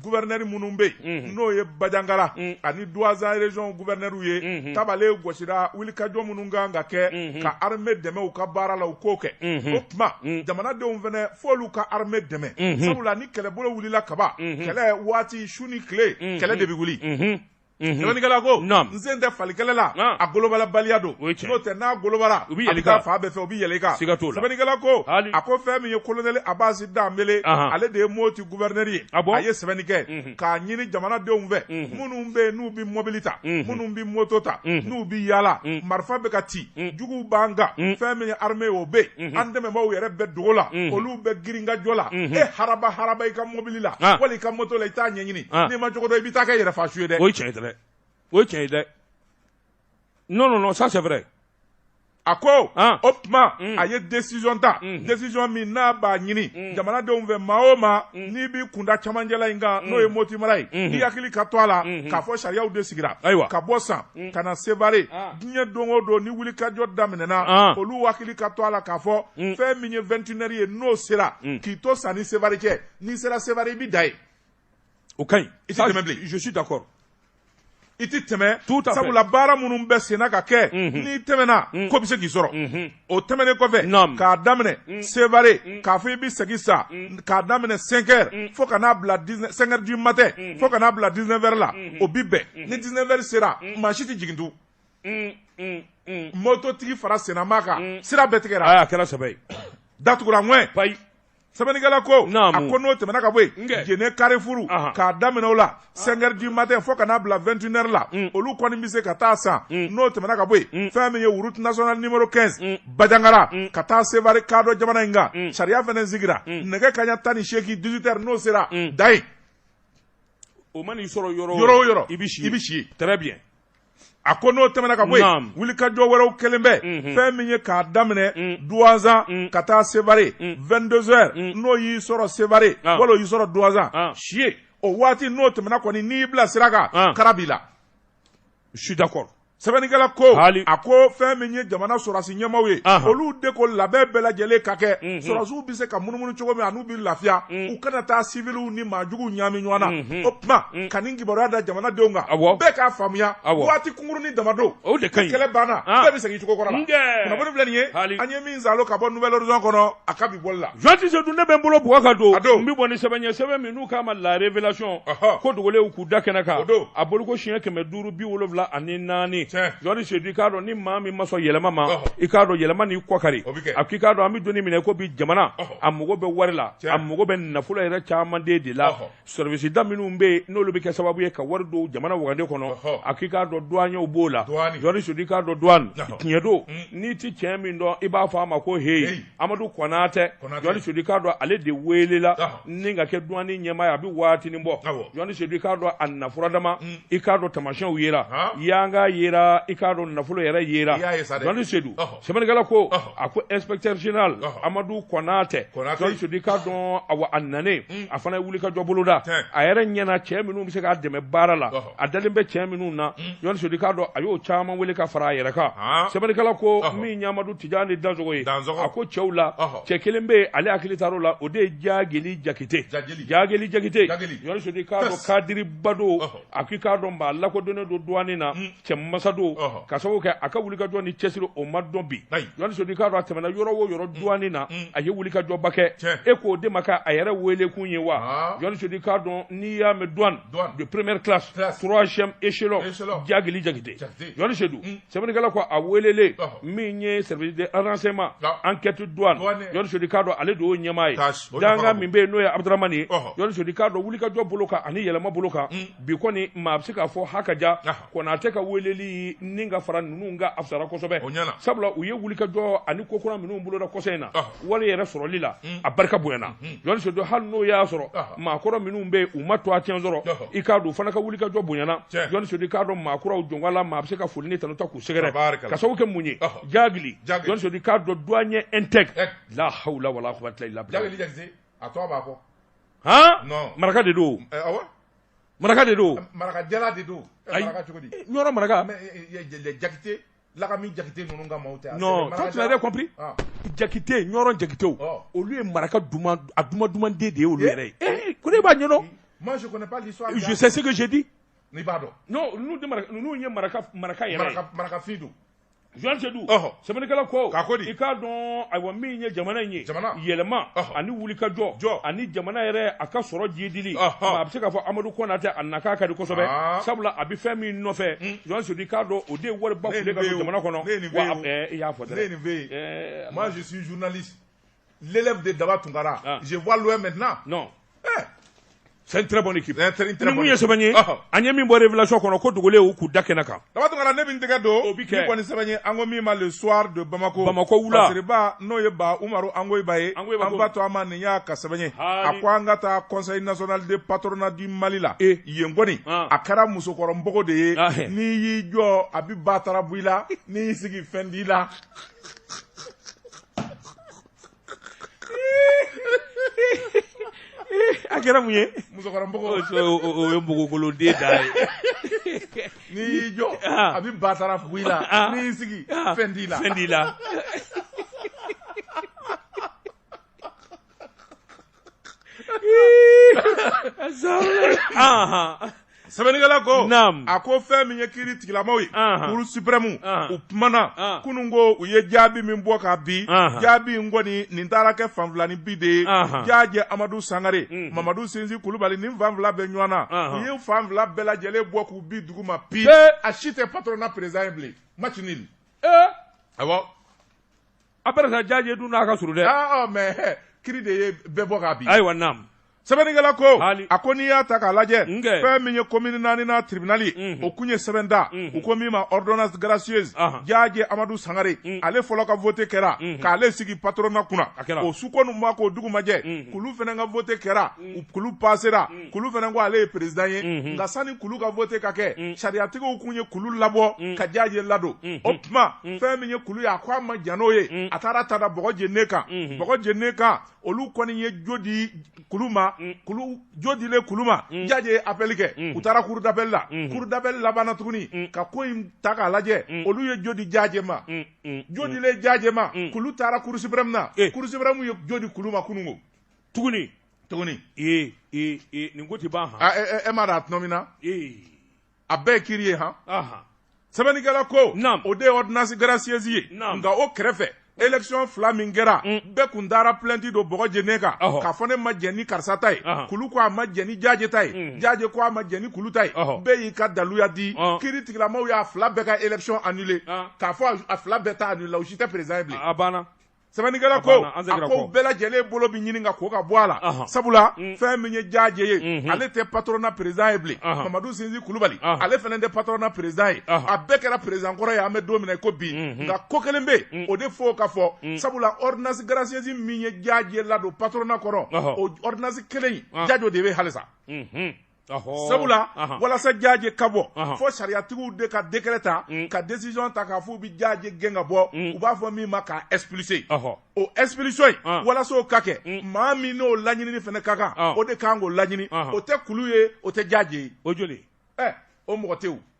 Gouverneur minnu bɛ yen n'o ye bajangara ani Douentza région gouverneurw ye tabale gosira wulikajɔ minnu ka kan ka kɛ ka armée dɛmɛ u ka baara la u k'o kɛ o tuma jamanadenw fana fo olu ka armée dɛmɛ sabula ni kɛlɛbolo wulila kaban kɛlɛ waati su ni tile kɛlɛ de bɛ wuli Sɛbɛnnikɛla ko n sen tɛ fali kɛlɛ la a golobalabaliya don n'o tɛ n'a golobara u bɛ fan bɛɛ fɛ u bɛ yɛlɛn i kan sɛbɛnnikɛla ko a ko fɛn min ye kolonɛli Abass Dembélé ale de ye moti gouverneur ye a a ye sɛbɛnni kɛ k'a ɲini jamanadenw fɛ minnu bɛ yen n'u bɛ mɔbili ta minnu bɛ mɔto ta n'u bɛ yaala marifa bɛ ka ci juguw b'an kan fɛn min ye armée o bɛ an dɛmɛbaw yɛrɛ bɛ dogo la olu bɛ girinkajɔ la e harabaharaba i ka mɔbili la wali i ka mɔto la i t'a ɲɛɲini Ah. N'i m'a cogo dɔn i bɛ taa kɛ yɛrɛfa su ye dɛ. O ye tiɲɛ ye dɛ. O ye tiɲɛ ye dɛ. Non non non ça c'est vrai. A ko ah. o tuma mm. a ye décision ta mm. décision min n'a b'a ɲini mm. jamanadenw fɛ maa o maa n'i b'i kunda cɛmancɛla in kan n'o ye Moti mara ye i hakili ka to a la mm-hmm. k'a fɔ sariyaw de sigira ayiwa ka bɔ san ka na Sevare ah. diɲɛ don o don ni wulikajɔ daminɛna ah. olu hakili ka to a la k'a fɔ fɛn min ye 21 heures ye n'o sera k'i to san ni Sevare cɛ n'i sera Sevare i bɛ da yen o ka ɲi i tɛ tɛmɛ bilen je suis d'accord i tɛ tɛmɛ sabula baara minnu bɛ senna ka kɛ mhm. n'i tɛmɛna mhm. ko bɛ se k'i sɔrɔ mhm. o tɛmɛnen kɔfɛ k'a daminɛ sevare k'a fɔ i bɛ segin San k'a daminɛ 5 heures fo ka n'a bila 5 heures du matin fo ka n'a bila 19 heures la o bi bɛn ni 19 heures sera maa si tɛ jigin tugun mototigi fara sennama kan sira bɛɛ tigɛra a kɛra sɛbɛ ye datugura ŋɛn sɛbɛnnikɛla ko a ko n'o tɛmɛna ka bɔ yen jene karifuru k'a daminɛ o la 5 heures du matin fo ka n'a bila 21 heures la mm. olu kɔni bɛ se ka taa san mm. n'o tɛmɛna ka bɔ yen mm. fɛn min ye route nationale numéro 15 bajangara ka taa sevari kado jamana in kan sariya fana sigira nɛgɛ kanɲɛ tan ni seegin 18 heures n'o sera da yen o man'i sɔrɔ yɔrɔ o yɔrɔ i bɛ si i bɛ si très bien a ko n'o tɛmɛna ka bɔ yen wulikajɔ wɛrɛw kɛlen bɛ mhm. fɛn min ye k'a daminɛ mm. duwanzan mm. ka taa sevare 22 heures n'o y'i sɔrɔ sevare ah. wala o y'i sɔrɔ duwanzan ah. si yen o waati n'o tɛmɛna kɔni n'i y'i bila sira kan ah. kara b'i la je suis d'accord sɛbɛnnikɛla ko a ko fɛn min ye jamana sɔrɔdasi ɲɛmaaw ye olu de ko labɛn bɛɛ lajɛlen ka kɛ mhm. sɔrɔdasiw bɛ se ka munumunu cogo min bɛ lafiya u kana taa siwiliw ni maa jugu ɲami ɲɔgɔn na o tuma ka nin kibaruya da jamanadenw kan bɛɛ k'a faamuya waati kunkurunnin dama don o de ka kɛlɛ banna bɛɛ bɛ segin cogo kɔrɔ nin ye an ye min sa ka bɔ Nouvel Horizon kɔnɔ a ka bi bɔ la jɔnni sedu ne bɛ n bolo bɔ ka don don bɛ bɔ ni sɛbɛn ye sɛbɛn min n'u k'a ma La Révélation ko dogolen k'u da kɛnɛ kan don a bolo ko siɲɛ kɛmɛ duuru bi wolowula ani naani jɔnni sedu i k'a dɔn ni maa min ma sɔn yɛlɛma ma i k'a dɔn yɛlɛma n'i kɔ kari a k'i k'a dɔn an bɛ don min i ko bi jamana a mago bɛ wari la a mago bɛ nafolo yɛrɛ caman de de la sɛriwisida minnu bɛ yen n'olu bɛ kɛ sababu ye ka wari don jamana wagande kɔnɔ a k'i k'a dɔn duwaɲɛw b'o la sedu i k'a dɔn duwani tiɲɛ don n'i tɛ cɛ min dɔn i b'a fɔ a ma ko heyi amadu konatɛ sedu i k'a dɔn ale de weelela ni ka kɛ duwani ɲɛmaa ye a bɛ waati bɔ sedu i k'a dɔn a nafolo dama i k'a dɔn tamasiyɛnw yera yanka yera i k'a dɔn nafolo yɛrɛ yera sedu Sɛbɛnnikɛla ko a ko inspecteur général Amadu Konatɛ Sedu i k'a dɔn a nanen hmm. a fana ye wulikajɔ boloda a yɛrɛ ɲɛna cɛ minnu bɛ se k'a dɛmɛ baara la a dalen bɛ cɛ minnu na Jɔni hmm. Sedu i k'a dɔn a y'o caman wele ka fara a yɛrɛ kan sɛbɛnnikɛla ko min ye Amadu Tijani Dansogo ye a ko cɛw la cɛ kelen bɛ yen ale hakili taar'o la o de ye Jageli Jakite Jageli Jakite Jɔni Sedu i k'a dɔn kadiriba don a k'i k'a dɔn maa lakodɔnnen don douane na hmm. cɛ masa don k'a sababu kɛ a ka wulikajɔ ni cɛsiri o ma dɔn bi jɔni sedu i k'a dɔn a tɛmɛna yɔrɔ o yɔrɔ mm. duwani na mm. a ye wulikajɔba kɛ e k'o de ma kɛ a yɛrɛ weelekun ye wa jɔni sedu i k'a dɔn n'i y'a mɛn duwani de première classe troisième échelon jageli jakite jɔni sedu mm. sɛbɛnnikɛla ko a weelelen min ye service de renseignement enquête duwani jɔni sedu i k'a dɔn ale de y'o ɲɛmaa ye dankan min bɛ yen n'o ye abudaramani ye jɔni sedu i k'a dɔn wulikajɔ bolo kan ani yɛlɛma bolo kan bi kɔni maa a bɛ se k'a fɔ ha ka ja konatɛ ka weleli ni ka fara ninnu kan a fisara kosɛbɛ sabula u ye wuli ka jɔ ani ko kura minnu boloda kɔsa in na wale yɛrɛ sɔrɔli la a barika bonyana jɔso don hali n'o y'a sɔrɔ maa kɔrɔ minnu bɛ yen u ma to a cɛ sɔrɔ i k'a dɔn fana ka wuli ka jɔ bonyana jɔnso k'a dɔn maa kuraw jɔnka la maa bɛ se ka foli ni tanu ta k'u sɛgɛrɛ ka sababu kɛ mun ye journaliste i k'a dɔn du ɲɛ n tɛ la hala wala a tɔgɔ b'a fɔ han non maraka de don eh, awɔ maraka de don maraka jalan de don eh, ayi maraka cogo di ɲɔrɔn maraka mais eh, jakite lagami jakite ninnu ka maaw tɛ non toi tu l'avais compris ah. jakite ɲɔrɔn jakitew oh. olu ye maraka duman a duman duman den de ye olu yɛrɛ ye eh ko ne b'a ɲɛdɔn moi je connais pas l'histoire je sais ce que j'ai dit n'i b'a dɔn non ninnu ye maraka maraka yɛrɛ ye maraka maraka fin don Journaliste Seydu sɛbɛnnikɛla ko k'a ko di i k'a dɔn ayiwa min ye jamana in ye jamana yɛlɛma ani wulikajɔ jɔ ani jamana yɛrɛ a ka sɔrɔ jiidili a bɛ se k'a fɔ Amadu Kɔnatɛ a nakan ka di kosɛbɛ sabula a bɛ fɛn min nɔfɛ hmm. Journaliste Seydu i k'a dɔn o de ye wariba file ka don jamana kɔnɔ wa i y'a fɔ dɛ ne ye nin f'e ye moi je suis journaliste L'élève de Daba Tunkara, ah. je vois loin maintenant. Non. Eh. C'est une très bonne équipe. C'est une très bonne équipe. Nin ye sɛbɛn ye an ye min bɔ révélation kɔnɔ ko dogolenw k'u da kɛnɛ kan. Daba Tunkara ne bɛ n tɛgɛ don. O bi kɛ. Nin kɔni sɛbɛn ye an ko min ma le soir de Bamako. Bamako wula. Masiriba n'o ye ba Umaru Angoyiba ye. Angoyiba ko. An b'a to an ma nin y'a ka sɛbɛn ye. A ko an ka taa conseil national de patronat du Mali la. E. Yen kɔni. Ah. A kɛra musokɔrɔ npogo de ye. Ah, eh. N'i y'i jɔ a bi ba tarabu i la. N'i y'i sigi fɛn t'i la. a kɛra mun ye musokɔrɔ npogo o o- o- o ye npogokoloden de ye n'i y'i jɔ Ah. a bɛ ba taara fugu i la Ah. n'i y'i sigi Ah, fɛn t'i la fɛn t'i la Sɛbɛnnikɛla ko a ko fɛn min ye kiri tigilamaw ye kuru siprɛmu u kumana kunun ko u ye jaabi min bɔ ka bi jaabi in kɔni nin taara kɛ fan fila nin bi de ye jajɛ amadu sangare mamadu sinsi kulubali ni fan fila bɛ ɲɔgɔn na u ye fan fila bɛɛ lajɛlen bɔ k'u bi dugu ma bi a si tɛ patoronna perezidan bilen ma A bɛ jajɛ dun n'a ka surun dɛ mɛ kiri de ye bɛɛ bɔ k'a bi ayiwa sɛbɛnnikɛla ko a ko n'i y'a ta k'a lajɛ fɛn min ye komini naaninan tiribinali ye o kun ye sɛbɛn da u ko min ma ordonnance gracieuse jajɛ amadu sangare ale fɔlɔ ka vote kɛra k'ale sigi patoronna kunna o su kɔnɔ na k'o dugu majɛ kulu fana ka vote kɛra kulu pasera kulu fana ko ale ye perezdan ye nka sani kulu ka vote ka kɛ sariyatigiw tun ye kulu labɔ ka jaje ladon o tuma fɛn min ye kulu ye a ko a ma jɛn n'o ye a taara t'a da bɔgɔ jene kan bɔgɔ jene kan olu kɔni ye jo di kulu ma jo dilen kulu ma jaje ye appel kɛ u taara cour d'appel la cour d'appel labanna tuguni ka ko in ta k'a lajɛ olu ye jo di jaje ma jo dilen jaje ma kulu taara cour suprême na cour suprême ye jo di kulu ma kunun tuguni tuguni ee ee ee nin ko ti ban han a- e- e- e m'a dɔn a tɔnɔ min na ee a bɛɛ ye kiri ye han ahan sɛbɛnnikɛla ko Naam. o de ye ordonnance gracieuse ye Naam. nka o kɛrɛfɛ élection fila min kɛra Mm. bɛɛ kun taara plainte don bɔgɔ jene kan Ɔhɔ. k'a fɔ ne ma jɛn ni karisa ta ye Ahan. kulu ko a ma jɛn ni jaaje ta ye Mm. jaaje ko a ma jɛn ni kulu ta ye Ɔhɔ. bɛɛ y'i ka daluya di Ɔn. kiritigilamaw y'a fila bɛɛ ka élection annulé An. k'a fɔ a- a fila bɛɛ ta annulé la u si tɛ président ye bilen a banna sɛbɛnnikɛla ko a ko bɛɛ lajɛlen bolo bɛ ɲini ka ko ka bɔ a la sabula mm. fɛn min ye jaaje ye mm-hmm. ale tɛ patronna perezan ye bilen mamadu sinsi kulubali ale fana tɛ patronna perezan ye a bɛɛ kɛra perezan kɔrɔ ye an bɛ don min na i ko bi mm-hmm. nka ko kelen bɛ mm. o de fo o ka fɔ mm. sabula ɔridinasi garasiyɛsi min ye jaaje ladon patronna kɔnɔ o ɔridinasi kelen jajo de bɛ halisa mm-hmm. sabula walasa jaje ka bɔ fo sariyatigiw de ka dekɛrɛ ta mm. ka desisɔn ta k'a fɔ u bɛ jaje gɛn ka bɔ mm. u b'a fɔ min ma k'a ɛsplise o ɛsplisɔn in walasa o ka kɛ mm. maa min n'o laɲinini fana ka kan o de kan k'o laɲini o tɛ kulu ye o tɛ jaje ye o joli ɛ o mɔgɔ tɛ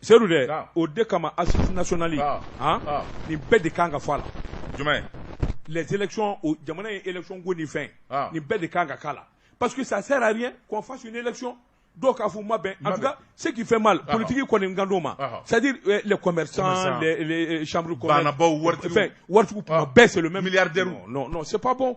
seyidu dɛ o de kama assises nationales nin bɛɛ de kan ka fɔ a la jumɛn jamana ye élection ko nin fɛn nin bɛɛ de kan ka k'a la parce que ça sert à rien qu'on fasse élection dɔw k'a fɔ a ma bɛn en tout cas ce qui fait mal politiki kɔni kand'o ma c'est à dire les sauru wari wari bɛɛ c'est les mêmes c'est pas bon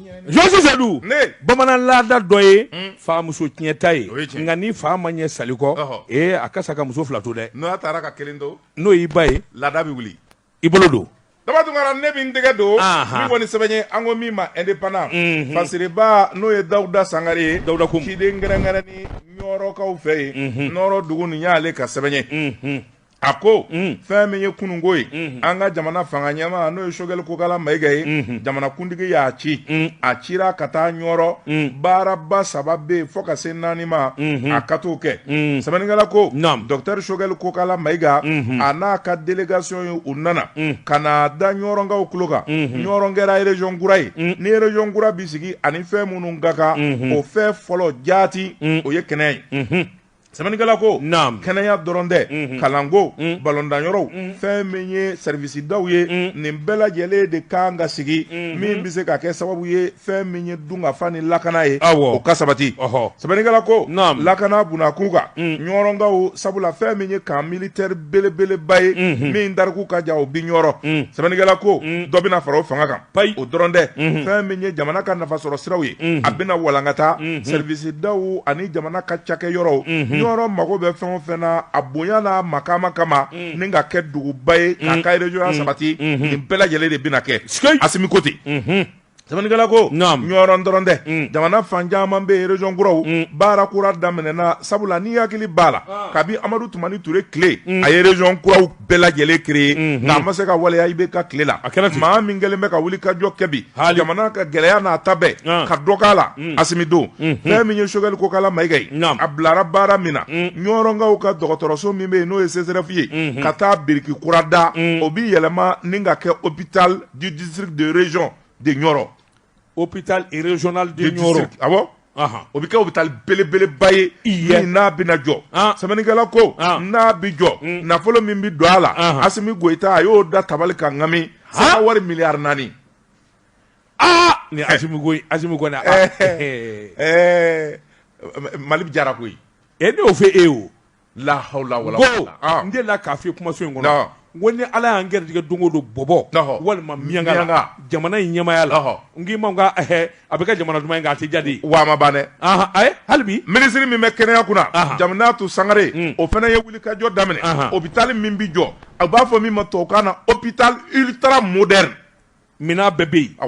Jɔ seyidu bamanan laada dɔ ye famuso tiɲɛta ye nka ni fa ma ɲɛ sa kɔ a ka sa ka muso fila to dɛ n'a taara ka kelen to n'o y'i ba ye laada bɛ wili i bolo don ne bɛ n tɛgɛ don kɔni sɛbɛn an ko min ma indépendant masiririba n'o ye dawuda sangare ye dawuda ko ciden kɛrɛnkɛrɛnnen ɲɔrɔkaw fɛ yen ɲɔrɔ dugu nin y'ale ka sɛbɛn a ko mm. fɛn min ye kununko ye mm-hmm. an ka jamana fanga ɲɛmaa n'o ye sogɛli kokala mayigɛ ye mm-hmm. jamanakuntigi y'a ci mm. a cira ka taa ɲɔrɔ mm. baaraba saba bɛ yen fo ka se naani ma mm-hmm. a ka t'o kɛ sɛbɛnnikɛla ko dɔktɛri sogɛli kokala mayiga a n'a ka delegation ye u nana ka n'a da ɲɔrɔnkaw tulo kan ɲɔrɔn kɛra erezɔn kura ye ni erezɔn kura bɛ sigi ani fɛn minnu ka kan o fɛn fɔlɔ jaati o ye kɛnɛya ye sɛbɛnnikɛla ko naam kɛnɛya dɔrɔn tɛ mhm. kalanko mhm. balɔntanyɔrɔw mhm. fɛn min ye sɛrivisidaw ye nin bɛɛ lajɛlen de kan ka sigi min bɛ se ka kɛ sababu ye fɛn min ye dunkafa ni lakana ye o ka sabati sɛbɛnnikɛla ko naam lakana bunakun kan ɲɔrɔnkaw sabula fɛn min ye camp militaire belebeleba ye min tariku ka jan o bi ɲɔrɔ sɛbɛnnikɛla ko dɔ bɛna fara o fanga kan ayi o dɔrɔn tɛ fɛn min ye jamana ka nafasɔrɔ siraw ye a bɛna walankata sɛrivisidaw ani jamana ka cakɛyɔrɔw ɲɔrɔ mago bɛ fɛn o fɛn na a bonya n'a makaama kama ni ka kɛ duguba ye k'a ka régionya sabati nin bɛɛ lajɛlen de bɛna kɛ asimi ko ten sɛbɛnnikɛla ko ɲɔrɔ dɔrɔn tɛ jamana fan caman bɛ yen région kuraw baara kura daminɛna sabula n'i hakili b'a la kabi amadu tumani ture tile a ye région kuraw bɛɛ lajɛlen créer mhm. nka a ma se ka waleya ibeka tile la maa min kelen bɛ ka wulikajɔ kɛ bi jamana ka gɛlɛya n'a ta bɛɛ ah. ka dɔ k'a la mm. asimi don mhm. fɛn min ye sogɛli kokala mayiga ye a bilara baara min na mm. ɲɔrɔnkaw ka dɔgɔtɔrɔso min bɛ yen n'o ye CSREF ye mhm. ka taa biriki kura da mm. o bi yɛlɛma ni ka kɛ hôpital du district de région de ɲɔrɔ Hôpital régional de ɲɔrɔ a o bɛ kɛ hôpital belebeleba ye i n'a bɛna jɔ sɛbɛnnikɛla ko n'a bɛ jɔ nafolo min bɛ don a la asimi goyita a y'o da tabali kan naam sefa wari miliyari naani aa ni a mali diyara koyi e y'o fɛ e o lahawula n dela k'a fɔ kumaso in kɔnɔ ko ni ala y'an garijɛgɛ don dɔ bɔbɔ walima miyanka jamana in ɲɛmaaya la n k'i ma a bɛ ka jamana duman in' a tɛ jaabi dɛ halibi minisiri min bɛ kɛnɛya kunna jaminatu sangare o fana ye wulikajɔ daminɛ hôpital min bɛ jɔ a b'a fɔ min ma tubabukan na hôpital ultra moderne minɛn bɛɛ bɛ yen a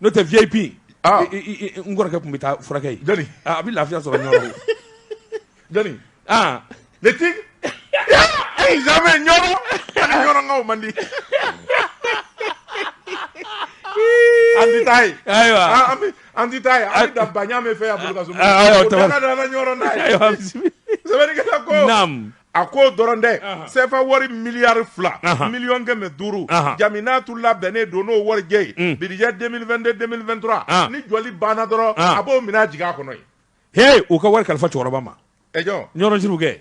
n'o tɛ vip ah. n kɔrɔkɛ tun bɛ taa furakɛ jɔni ah, a bɛ lafiya sɔrɔ ɲɔrɔn na jɔni ah le tigre eh, jamais ɲɔrɔ ani ɲɔrɔnkaw man di an ti taa yen ayiwa ah, an ti taa yen an bɛ dan baɲa min fɛ yan bolo ka so ayiwa tɛmɛ an ka dan an ka ɲɔrɔn na yen sɛbɛnnikɛla ko naam a ko o dɔrɔn tɛ sefa wari miliyari fila miliyɔn kɛmɛ duuru jaminatu labɛnnen don n'o wari jɛ ye mm. budget 2022-2023 ni jɔli banna dɔrɔn a b'o minɛn jigin a kɔnɔ yen he u ka wari kalifa cɛkɔrɔba ma e jɔn ɲɔrɔ sirifu kɛ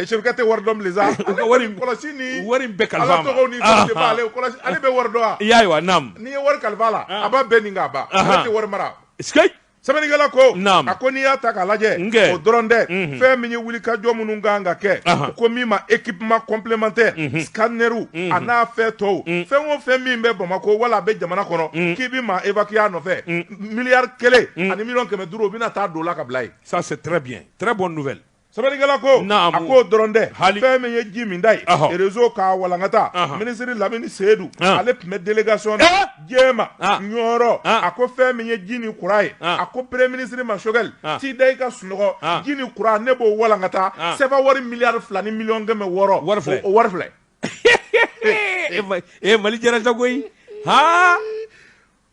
sirifu kɛ tɛ wari dɔn bilen sa u ka wari kɔlɔsi ni wari bɛɛ kalif'a ma ala tɔgɔw ni fɛnw de b'ale kɔlɔsi ale bɛ wari dɔn wa i y'a ye wa naamu n'i ye wari kalif'a la a b'a bɛɛ ni k'a ban ale tɛ wari mara sike sɛbɛnnikɛla ko Naam. a ko n'i y'a ta k'a lajɛ Nge. o dɔrɔn tɛ Mhm. fɛn min ye wulikajɔ minnu ka kan ka kɛ Aha. ko min ma équipement complémentaire scanneriw a n'a fɛn tɔw fɛn o fɛn min bɛ bamakɔ wala a bɛ jamana kɔnɔ k'i bɛ maa évacuer a nɔfɛ miliyari kelen ani miliyɔn kɛmɛ duuru o bɛna taa don o la k'a bila yen ça c'est très bien très bonne nouvelle Sɛbɛnnikɛla ko a k'o dɔrɔn tɛ fɛn min ye ji minta ye rezo k'a walankata minisiri lamini seyidu ale tun bɛ delegasɔn in ɲɛma ɲɔrɔ a ko fɛn min ye ji ni kuran ye a ko premiye minisiri ma sogɛli i da i ka sunɔgɔ ji ni kuran ne b'o walankata sefawari miliyari fila ni miliyɔn kɛmɛ wɔɔrɔ o wari filɛ o wari filɛ e mali diyara koyi h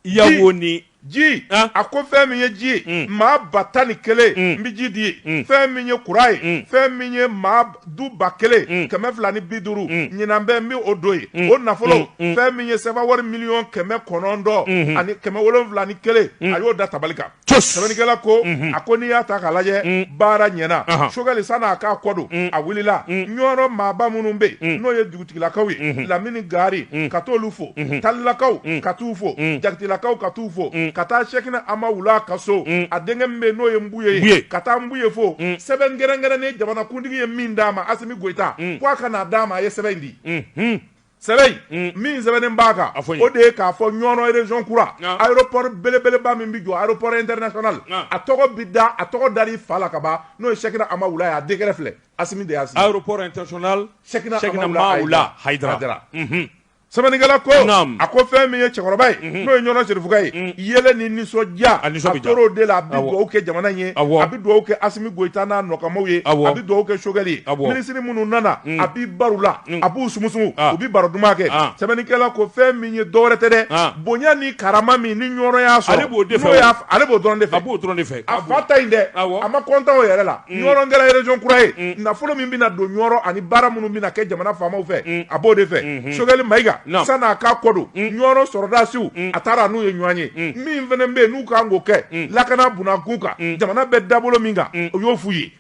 yawo ni ji ah. a ko fɛn min ye ji ye mm. maa ba tan ni kelen mm. n bɛ ji di ye mm. fɛn min ye kuran ye mm. fɛn min ye maa du ba kelen mm. kɛmɛ fila ni bi duuru mm. ɲinan bɛ n bɛ o don yen mm. o nafolo mm. mm. fɛn min ye sefawari miliyɔn kɛmɛ kɔnɔntɔn mm -hmm. ani kɛmɛ wolonfila ni kelen mm. a y'o da tabali kan sɛbɛnnikɛla ko a ko n'i y'a ta k'a lajɛ baara ɲɛna sogɛli sann'a k'a kɔ don a wulila ɲɔrɔ maaba minnu bɛ yen n'o ye dugutigilakaw ye lamini gari ka t'olu fo talilakaw ka t'u fo jakitelakaw ka t'u fo ka taa sɛkina amawula ka so a denkɛ min bɛ n'o ye nbuye ka taa nbuye fo sɛbɛn kɛrɛnkɛrɛnnen jamanakuntigi ye min d'a ma asimi goyita ko a ka n'a d'a ma a ye sɛbɛn in di sɛbɛn in min sɛbɛnnen b'a kan A fɔ n ye. o de ye k'a fɔ Ɲɔrɔ région kura Nka. aéroport belebeleba min bɛ jɔ aéroport international Nka. a tɔgɔ bɛ da a tɔgɔ dar'i fa la ka ban n'o ye Sɛkina Amawula ye a décret filɛ Asimi de y'a signé aéroport international Sɛkina Sɛkina Amawula Mawula Hayidara. Hayidara Mhm. sɛbɛnnikɛla ko Naam. a ko fɛn min ye cɛkɔrɔba ye n'o ye Ɲɔrɔ serifukɛ ye yɛlɛ ni nisɔndiya A nisɔn bɛ diya. a tor'o de la a bɛ Awɔ. dugawu kɛ jamana in ye Awɔ. a bɛ dugawu kɛ Asimi Goyita n'a nɔkanmaaw ye Awɔ. a bɛ dugawu kɛ Sogɛli ye Awɔ. minisiri minnu nana a bɛ baro la a b'u sumusumu u bɛ baro duman kɛ sɛbɛnnikɛla ko fɛn min ye dɔwɛrɛ tɛ dɛ bonya ni karama min ni ɲɔrɔ y'a sɔrɔ ale b'o de fɛ ale b'o dɔrɔn de fɛ a b'o dɔrɔn de fɛ a fa ta in dɛ a ma kɔntan o yɛrɛ la ɲɔrɔ kɛra région kura ye nafolo min bɛna don ɲɔrɔ ani baara minnu bɛna kɛ jamana faamaw fɛ a b'o de fɛ sogɛli mayiga sann'a k'a kɔ don ɲɔrɔ sɔrɔdasiw a taara n'u ye ɲɔgɔn ye min fana bɛ yen n'u ka kan k'o kɛ lakana b'u kun kan jamana bɛ dabolo min kan o y'o f'u ye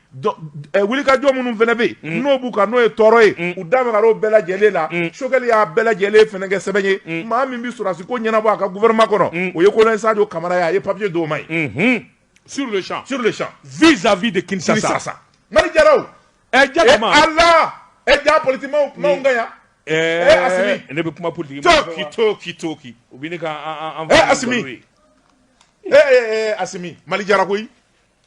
wulikajɔ minnu fana bɛ yen n'o b'u kan n'o ye tɔɔrɔ ye u da magar'o bɛɛ lajɛlen la sogɛli y'a bɛɛ lajɛlen fana kɛ sɛbɛn ye maa min bɛ sɔrɔdasi ko ɲɛnabɔ a ka gouvernement kɔnɔ o ye kolonɛli sajo kamara ye a ye papiye d'o ma yen sur le champ sur le champ vis-à-vis de ki sa sa sa mali diyara ɛ ja ala ɛ ja polite ka yan ɛɛ ne bɛ kuma politigi k'i to k'i to ki u bɛ ne ka a ee a mali diyara koyi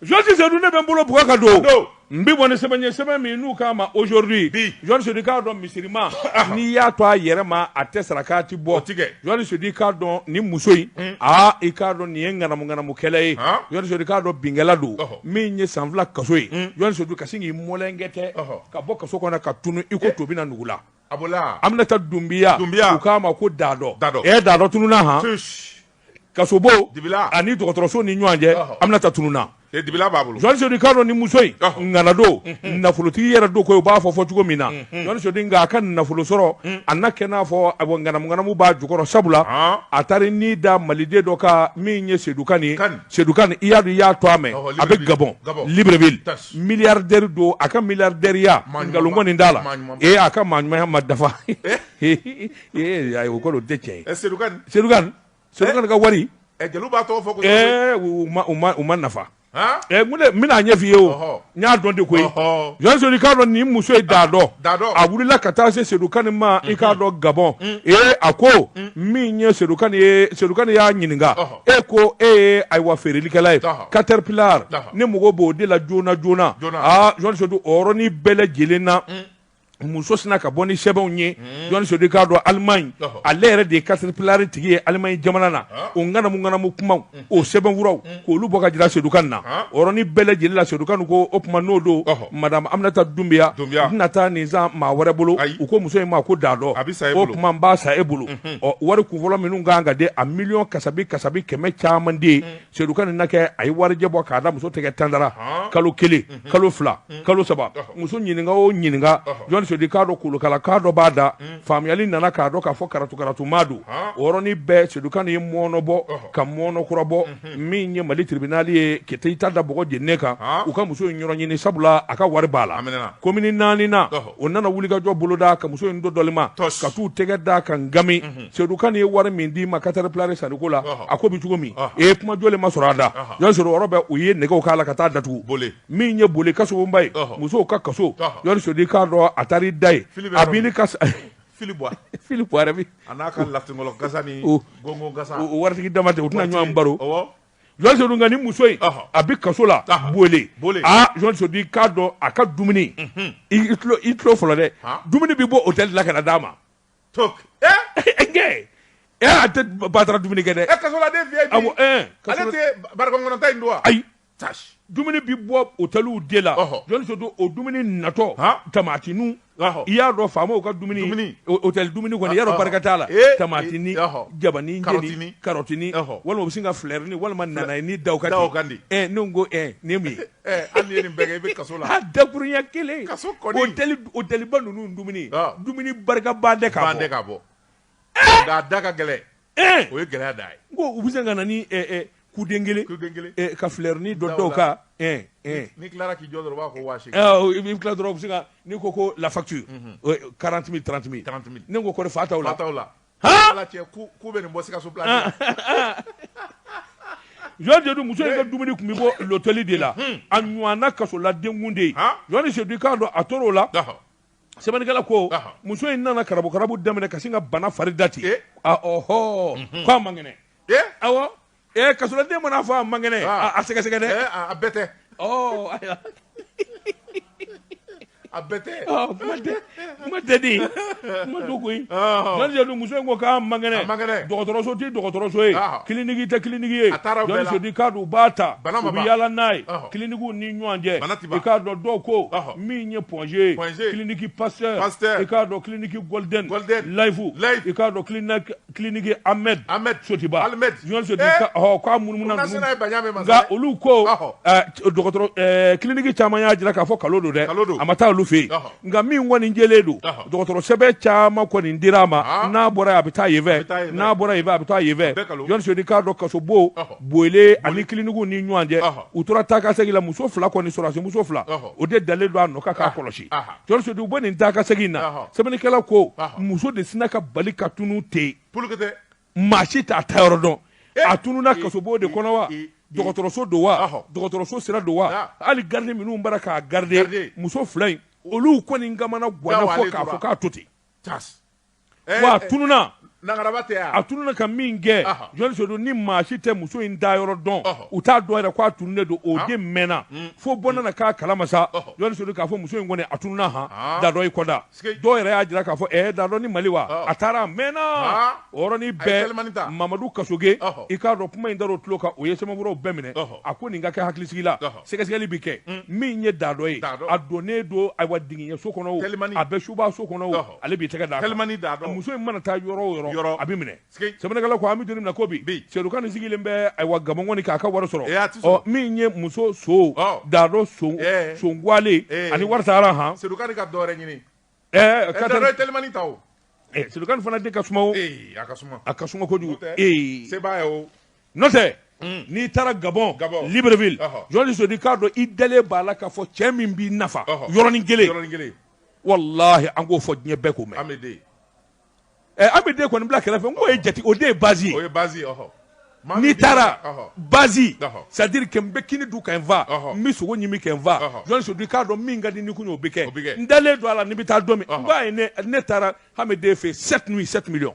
Jɔsi sedu ne bɛ n bolo bug ka don n bɛ bɔ ni sɛbɛn ye sɛbɛn min n'u k'a ma aujourd'hui jɔn sedu i k'a dɔn misirima n'i y'a to a yɛrɛ ma a tɛ sarakati bɔ tigɛ jɔn sedu i k'a dɔn ni muso in aa i k'a dɔn nin ye ŋanamuŋanamukɛla ye jɔn sedu i k'a dɔn binkɛla don min ye san fila kaso ye jɔn sedu ka sin k'i mɔlɛnkɛtɛ ka bɔ kaso kɔnɔ ka tunun i ko to bɛ na nugu la a an bɛ taa dunbiya dunbiya u k'a ma ko da dɔ da dɔ e da dɔ tununna hɔn kasobon ani dɔgɔtɔrɔso ni ɲɔgɔn cɛ aminata tununna b'a bolo jɔn sedu k'a dɔn ni muso in ŋana don nafolotigi yɛrɛ don ko u b'a fɔ fɔ cogo min na jɔn sedu nka a ka nafolo sɔrɔ a nana kɛ n'a fɔ ŋanamu ŋanamu b'a jukɔrɔ sabula a taara n'i da maliden dɔ kan min ye sedukan nin sedukan i y'a dɔn i y'a tɔgɔ mɛn a bɛ gabɔn libreville miliyaridɛri don a ka miliyaridɛriya nkalon kɔni t'a la ee a ka maa ɲumanya ma dafa Ee ayi o kɔrɔ o tɛ cɛ ye sedukan ka wari jeliw b'a tɔgɔ fɔ u mana fɛn min ɲɛfɔ i ye o n y'a dɔn de ko jɔn sedu i k'a dɔn ni muso ye da dɔn a wulila ka taa se sedukan ma i k'a dɔn gabɔn ee a ko min ye sedukan ye sedukan y'a ɲininka e ko e ye ayiwa feerelikɛla ye katɛripilari ne mago b'o de la joona joona jɔn sedu o yɔrɔnin bɛɛ lajɛlen na muso sinna ka bɔ ni sɛbɛnw ye hmm. jɔn sedu k'a dɔn alimaɲi ale yɛrɛ de ye katɛripilari tigi ye alimaɲi jamana na ah. o ŋanamu ŋanamu kumaw hmm. o sɛbɛnfuraw hmm. k'olu bɔ ka jira sedukan na ah. o yɔrɔnin bɛɛ lajɛlen la sedukan ko o tuma n'o don madame aminata dunbiya n tɛna taa nin san maa wɛrɛ bolo u ko muso in ma ko da dɔ o tuma n b'a san e bolo ɔ wari kunfɔlɔ minnu kan ka di a miliyɔn kasabi kasabi kɛmɛ caman de ye Sedukan ni na kɛ a ye warijɛ bɔ k'a da muso tɛgɛ tantara kalo kelen kalo fila kalo saba muso ɲininka o ɲininka jɔn sedu k'a dɔn kolokala k'a dɔ b'a da faamuyali nana k'a dɔn k'a fɔ karatukaratumaa don o yɔrɔnin bɛɛ sedukan ye mɔnɔnɔ bɔ ka mɔnɔnɔ kura bɔ min ye mali tiribinali ye ke i ta da bɔ j kan u ka muso in yɔrɔ ɲini sabula a ka wari b'a la komini naani na o nana wulikajɔ boloda ka muso in don dɔma ka taa u tɛgɛ da a kan nkammi sedukan ye wari min d'i ma katɛripilari sanko la a ko bɛ cogo min e ye kuma jɔlen ma sɔrɔ a da y'a sɔrɔ yɔrɔ bɛɛ u ye nɛgɛ k'a la ka taa datugu bole min ye bole kaba ye musow ka kaso sedu k'a dɔn a taara da yen a bɛ ni fili fili waritigi dama tɛ u tɛna ɲɔgɔn baro jɔn ni muso in a bɛ kaso la bole jɔn sedu k'a dɔn a ka dumuni i tulo fɔlɔ dɛ dumuni bɛ bɔ otɛli la ka d'a ma to e a tɛ batara dumuni kɛ dɛ e kasoladen fi ale tɛ barika kɔnɔ ta in dun wa ayi dumuni bɛ bɔ otɛliw de la jɔn sedu o dumuni natɔ tamatininw i y'a dɔn faamaw ka dumuni otɛli dumuni kɔni i y'a dɔn barika t'a la tamatini jabani karɔtini karɔtini walima u bɛ sin ka filɛrini walima nanayenin da u kan da u kan de ɛ ne ko nin ye mun ye an ye nin bɛɛ kɛ i bɛ kaso la. A dakurunya kelen. Kaso kɔni. Otɛli otɛliba ninnu dumuni. Ɔ. Dumuni barika ban tɛ ka bɔ. Ban tɛ ka bɔ. Ee! Nka a da ka gɛlɛn. Ee! O ye gɛlɛya de ye. N ko u bɛ sin ka na ni ɛ ɛ kuden kelen. Kuden kelen. Ɛ ka fleurini dɔ da u kan. Ɛ ɛ. N'i tilara k'i jɔ dɔrɔn u b'a fɔ ko waa seegin. Ɔ i b'i tila dɔrɔn u bɛ sin ka n'i ko ko la facture. Unhun. O ye 40 000 30 000. 30 000. Ne ko kɔri fa t'aw la. Fa t'aw la. muso ka dumuni tun bɛ bɔ lotɛli de la a ɲɔgɔn kasoladen tun tɛ a tora o la sɛbɛnnikɛla ko muso in nana karabu karabu daminɛ ka sin ka bana fari dati k' a man kɛnɛ Ee kasoladen mana fɔ a man kɛnɛ a sɛgɛsɛgɛ dɛ a bɛɛ tɛ a bɛɛ tɛ koyi muso in ko k'a man kɛnɛ dɔgɔtɔrɔso tɛ dɔgɔtɔrɔso ye kiliniki tɛ kiliniki ye u bɛ taa yaala n'a ye kilinikiw ni ɲɔgɔn cɛ i k'a dɔn dɔw ko min ye point g ye kiliniki pa pa k' kiliniki layifu i k'a dɔn ki kiliniki ahmed ahmed sotiba ahmed jɔn sedu eh. ɔ k'a munumuna ninnu nka olu ko dɔgɔtɔrɔ eh, kiliniki caman y'a jira k'a fɔ nkalon don dɛ a ma taa olu fɛ yen nka min kɔni jɛlen don dɔgɔtɔrɔ sɛbɛn caman kɔni dira a ma ah. n'a bɔra yen a bɛ taa yen fɛ n'a bɔra yen fɛ a bɛ taa yen fɛ jɔn sedu i k'a dɔn kasobon bole ani kilinikiw ni ɲɔgɔn cɛ u tora taa ka segin la muso fila kɔni sɔrɔdasi muso fila o de dalen don a nɔ kan k'a kɔlɔsi Sedu u b'o nin taa ka segin in na sɛbɛnnikɛla ko muso de sinna ka bali ka tunun ten maa si t'a taa yɔrɔ dɔn a tununna kasobon de kɔnɔ wa dɔgɔtɔrɔso don wa dɔgɔtɔrɔso sira don wa hali garidi minnu bara k'a garidi muso fila in olu kɔni kamanaganna fo k'a fɔ k'a to ten wa a tununa a tununa ka min kɛ jɔn sedu ni maa si tɛ muso in taa yɔrɔ dɔn u t'a dɔn yɛrɛ k'a tununnen don o den mɛnna mm. fo bɔ nana k'a kalama sa jɔn sedu k'a fɔ muso in kɔni a tununa han dadɔ i k'a dɔn dɔw yɛrɛ y'a jira k'a fɔ ɛɛ dadɔ ni mali wa a taara a mɛnna o yɔrɔnin bɛɛ mamadu kasoge i k'a dɔn kuma in dar'o tulo kan o ye sɛbɛnfuraw bɛɛ minɛ a ko nin ka kɛ hakilisigi la sɛgɛsɛgɛli bɛ kɛ mm. min ye dadɔ ye a donnen don ayiwa jinɛso kɔnɔ o a bɛ subaso kɔnɔ o ale b'i tɛgɛ da telimani da dɔn muso in mana taa yɔrɔ o yɔrɔ yɔrɔ a bɛ minɛ sɛbɛnnikɛla ko an bɛ don min na ko bi sedu kan nin sigilen bɛ ayiwa gabɔn kɔni k'a ka wari sɔrɔ eh, ɔ min ye muso so dadɔ so eh. songuale eh. ani wari sara han sedu kan ka dɔwɛrɛ ɲini ɛɛ ka taa telimani ta o sedu kan fana de ka suma o a ka suma a ka suma kojugu ee sebaa ye o n'o tɛ Mm. n'i taara gabɔn libreville jɔn sedu i k'a dɔn i dalen b'a la k'a fɔ cɛ min b'i nafa yɔrɔnin kelen walahi an k'o fɔ diɲɛ bɛɛ k'o mɛn ameden ɛ ameden kɔni bila kɛrɛfɛ n k'o ye jati o de ye bazi ye o ye bazi ye ɔhɔ n'i taara bazi c'est à dire que n bɛ kini dun ka n fa n bɛ sogo ɲimi ka n fa jɔn sedu i k'a dɔn min ka di ni kun o bɛ kɛ n dalen don a la ni n bɛ taa don min nka ne taara hamiden fɛ yen sept nuit sept millions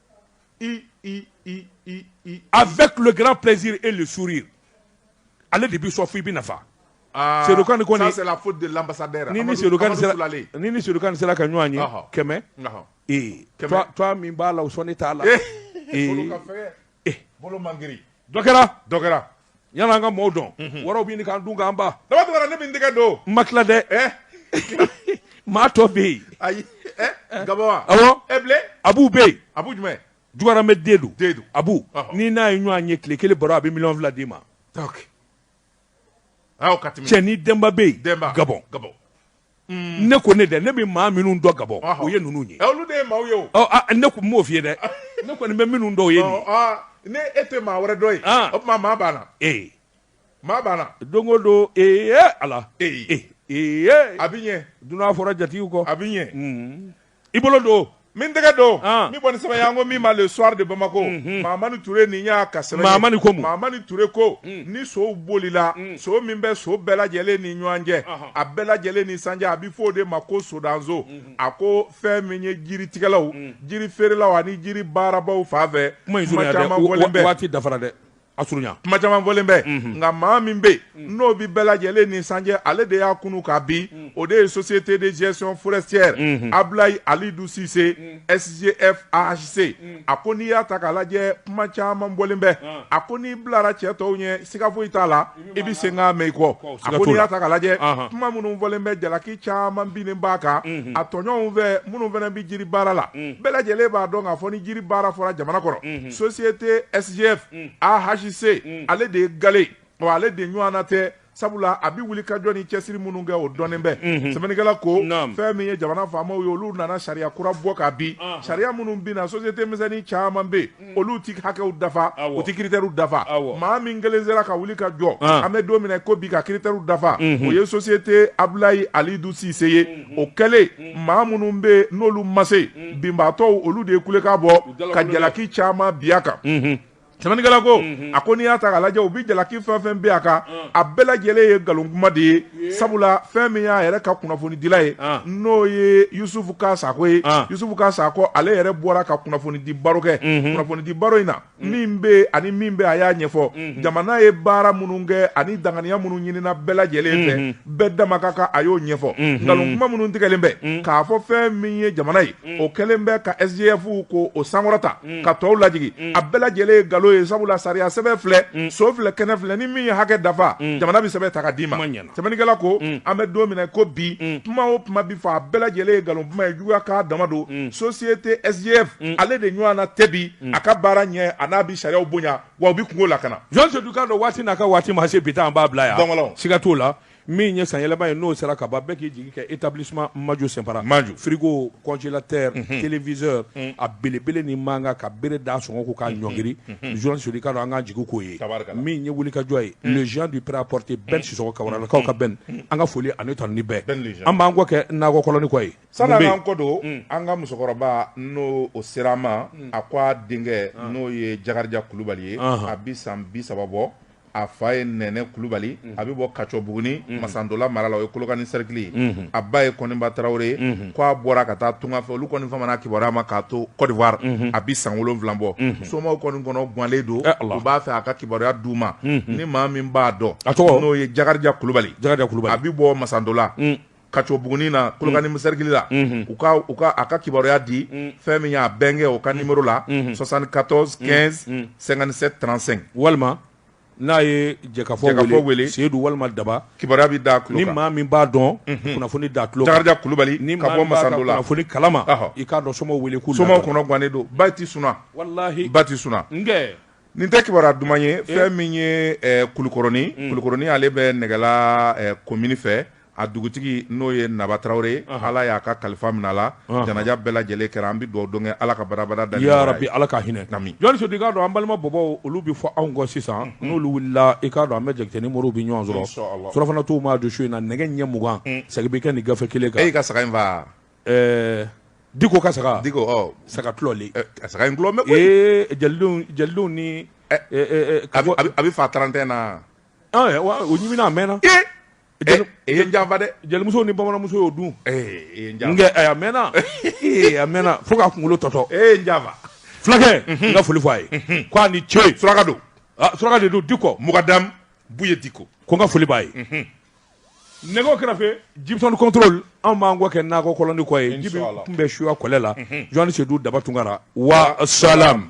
Avec le grand plaisir et le sourire. Ale de bi sɔn fo i bi nafa. Ah, Sedu Kan kɔni. Ça c'est la faute de l'ambassadeur. Ni ni Sedu Kan sera ni ni Sedu Kan sera ka ɲɔgɔn ye kɛmɛ. Ee toi toi min b'a la o sɔnni t'a la. Ee. Bolo ka fɛgɛ. Ee. Bolo man girin. Dɔ kɛra. Dɔ kɛra. yan an ka maaw dɔn wɔɔrɔw bɛ ɲini dun kan ba daba ne bɛ dɛgɛ don ma tila dɛ maa tɔ bɛ yen ayi ga abu bɛ yen a jumɛn juma bɛ den don a n'i n'a ye ɲɔgɔn ye tile kelen baro a bɛ miliyɔn fila d'i ma cɛ ni denba bɛ yen ga Mm. ne ko ne dɛ ne bɛ maa minnu dɔn gabɔn o ye ninnu ye eh, ne tun b'o f'i dɛ ne kɔni bɛ minnu dɔn o ye nin ah, ne e tɛ maa wɛrɛ dɔn yen ah. o tuma maa b'a la ee maa b'a la don o don ee ala ee ee a bɛ ɲɛ dunan fɔra jatigiw kɔ a bɛ ɲɛ mm. i bolo don min tɛgɛ don min bɔni sɛbɛn an ko min ma le soir de bamakɔ mamani ture nin y'a ka sɛbɛn mamani ko mun mamani ture ko ni sow bolila so min bɛ so bɛɛ lajɛlen ni ɲɔgɔn cɛ a bɛɛ lajɛlen ni san cɛ a bɛ fɔ o de ma ko sodanso a ko fɛn min ye jiri tigɛlaw jiri feerelaw ani jiri baarabagaw fan fɛ mankan caman bɛ waati dafara dɛ a surunya kuma caman fɔlen bɛ mhm. nka maa min bɛ mhm. n'o bɛ bɛɛ lajɛlen ni san cɛ ale de y'a kunu ka bi mhm. o de ye société de gestion forestière Ablaye Alidu Sise SGF AHC a ko n'i y'a ta k'a lajɛ kuma caman bɔlen bɛ ah. a ko n'i bilara cɛ tɔw ɲɛ siga foyi t'a la i bɛ senkan mɛn i kɔ a ko n'i y'a ta k'a lajɛ kuma minnu fɔlen bɛ jalaki caman binnen b'a kan a tɔɲɔgɔnw fɛ minnu fana bɛ jiri baara la bɛɛ lajɛlen b'a dɔn k'a fɔ ni jiri baara fɔra jamana kɔnɔ société SGF AHC ale de ye gale ye wa ale de ɲɔgɔnna tɛ sabula a bɛ wuli ka jɔ ni cɛsiri minnu kɛ o dɔnnen bɛ sɛbɛnnikɛla ko fɛn min ye jamana faamaw ye olu nana sariya kura bɔ k'a bin sariya minnu binna société misɛnnin caman bɛ yen olu ti hakɛw dafa u ti kiritɛriw dafa maa min kelen sera ka wuli ka jɔ ah. an bɛ don min na ko bi ka kiritɛriw dafa mhm. o ye sosiyete abulayi alidu sise ye mhm. o kɛlen mhm. maa minnu bɛ n'olu ma se binbaatɔw olu de ye kulekan bɔ ka jalaki caman bin a kan sɛbɛnnikɛla ko a ko n'i y'a ta k'a lajɛ u bɛ jalaki fɛn o fɛn bin a kan a bɛɛ lajɛlen ye nkalon kuma de ye sabula fɛn min y'a yɛrɛ ka kunnafonidila ye n'o ye yusufu ka sakɔ ye yusufu ka sakɔ ale yɛrɛ bɔra ka kunnafonidi baro kɛ kunnafonidi baro in na min bɛ ani min bɛ a y'a ɲɛfɔ jamana ye baara minnu kɛ ani danganiya minnu ɲinina bɛɛ lajɛlen fɛ bɛɛ dama ka kan a y'o ɲɛfɔ nkalon kuma minnu tigɛlen bɛ k'a fɔ fɛn min ye jamana ye o kɛlen bɛ ka sgf k'o sankɔrɔta ka tɔw lajigi a bɛɛ lajɛlen ye nkalon ye sabula sariya sɛbɛn filɛ so filɛ kɛnɛ filɛ ni min ye hakɛ dafa jamana bɛ sɛbɛn ta ka d'i ma ɲɛna sɛbɛnnikɛla ko an bɛ don min na ko bi kuma o kuma bi fɔ a bɛɛ lajɛlen ye nkalon kuma ye juguya ka dama don société sgf ale de ɲɔgɔnna tɛ bi a ka baara ɲɛ an'a bɛ sariya bonya wa o bɛ kungo lakana jɔn sedu k'a dɔn waati n'a ka waati ma se bi an b'a bila yan siga t'o la min ye sanyɛlɛma ye n'o sera ka ban bɛɛ k'i jigi kɛ établissement Majo Sinpara, Majo, frigo, congélateur, unhun, téléviseur un, a belebele ni mankan ka bere d'a sɔngɔ kun k'a ɲɔngiri, unhun, jɔnni Sedu i k'a dɔn an k'an jigi k'o ye, tabarikala, min ye wulikajɔ ye le géant du prêt à porter Ben Sisɔkɔ Kawaralakaw ka Ben an ka foli ani tanuni bɛ Ben le géant, an b'an kɔ kɛ nakɔ kɔlɔnnin kɔ ye, sani an k'an kɔ don an ka musokɔrɔba n'o o sera an ma a ko a denkɛ n'o ye Jakarija Kulubali ye a bi san bi saba bɔ a fa ye nɛnɛ kulubali a bɛ bɔ kacɔbugunin masantɔla mara la o ye kolokani sɛrikili ye a ba ye kɔnba tarawele ye ko a bɔra ka taa tunga fɛ olu kɔni famana kibaruya ma k'a to kɔdiwari a bɛ san wolonwula bɔ somaw kɔni kɔnɔ gannen don u b'a fɛ a ka kibaruya d' u ma ni maa min b'a dɔn a tɔgɔ n'o ye jakarija kulubali a bɛ bɔ masantɔla kacɔbugunin na kolokani sɛrikili la u ka a ka kibaruya di fɛn min y'a bɛnkɛ o ka numéro la soixante-quatorze quinze cinquante-sept trente-cinq walima n'a ye jɛkafɔ wele seyidu walima daba kibaruya bɛ da ni maa min b'a dɔn kunnafoni da tuloja kulubali ni ka bɔ masantɔla kunnafoni kalama i k'a dɔn somaw wele ko somaw kɔnɔ gannen don ba tɛ sunɔgɔ walahi ba tɛ sunɔgɔ nin tɛ kibaruya duman ye fɛn min ye kulukɔrɔnin kulukɔrɔnin ale bɛ nɛgɛla komini fɛ a dugutigi n'o ye naba tarawele ala y'a ka kalifa minɛ a la janaja bɛɛ lajɛlen kɛra an bɛ dugawu don ala ka barabara da bɛ ala ka hinɛ kami jɔnni i k'a dɔn an balima bɔbɔw olu bɛ fɔ anw kɔ sisan n'olu wulila i k'a dɔn an bɛ jate ni moriw bɛ ɲɔgɔn sɔrɔ surɔfana tuma don su in na nɛgɛ ɲɛ mugan sɛgɛ bɛ kɛ nin gafe kelen kan e ka saga infa diko ka saga di saga tuloli saga inlɔ bɛ jeliw ni a bɛ fa trantena'a mɛnna jeli e ye janfa dɛ jelimuso ni bamananmuso y'o dun a mɛnna a mɛnna fo ka kunkolo tɔtɔ e ye janfa fulakɛ n ka foli fɔ a ye k' a ni ce suraka don suraka de don dikɔ mukadamu buye dikɔ ko n ka foli b'a ye nɛgɛ kɛrɛfɛ jibi tour de contrôle anw b'an kɔ kɛ nakɔ kɔlɔnnin kɔ ye jibi tun bɛ suwa kɔlɛ la jɔnni sedu daba tunkara wasalam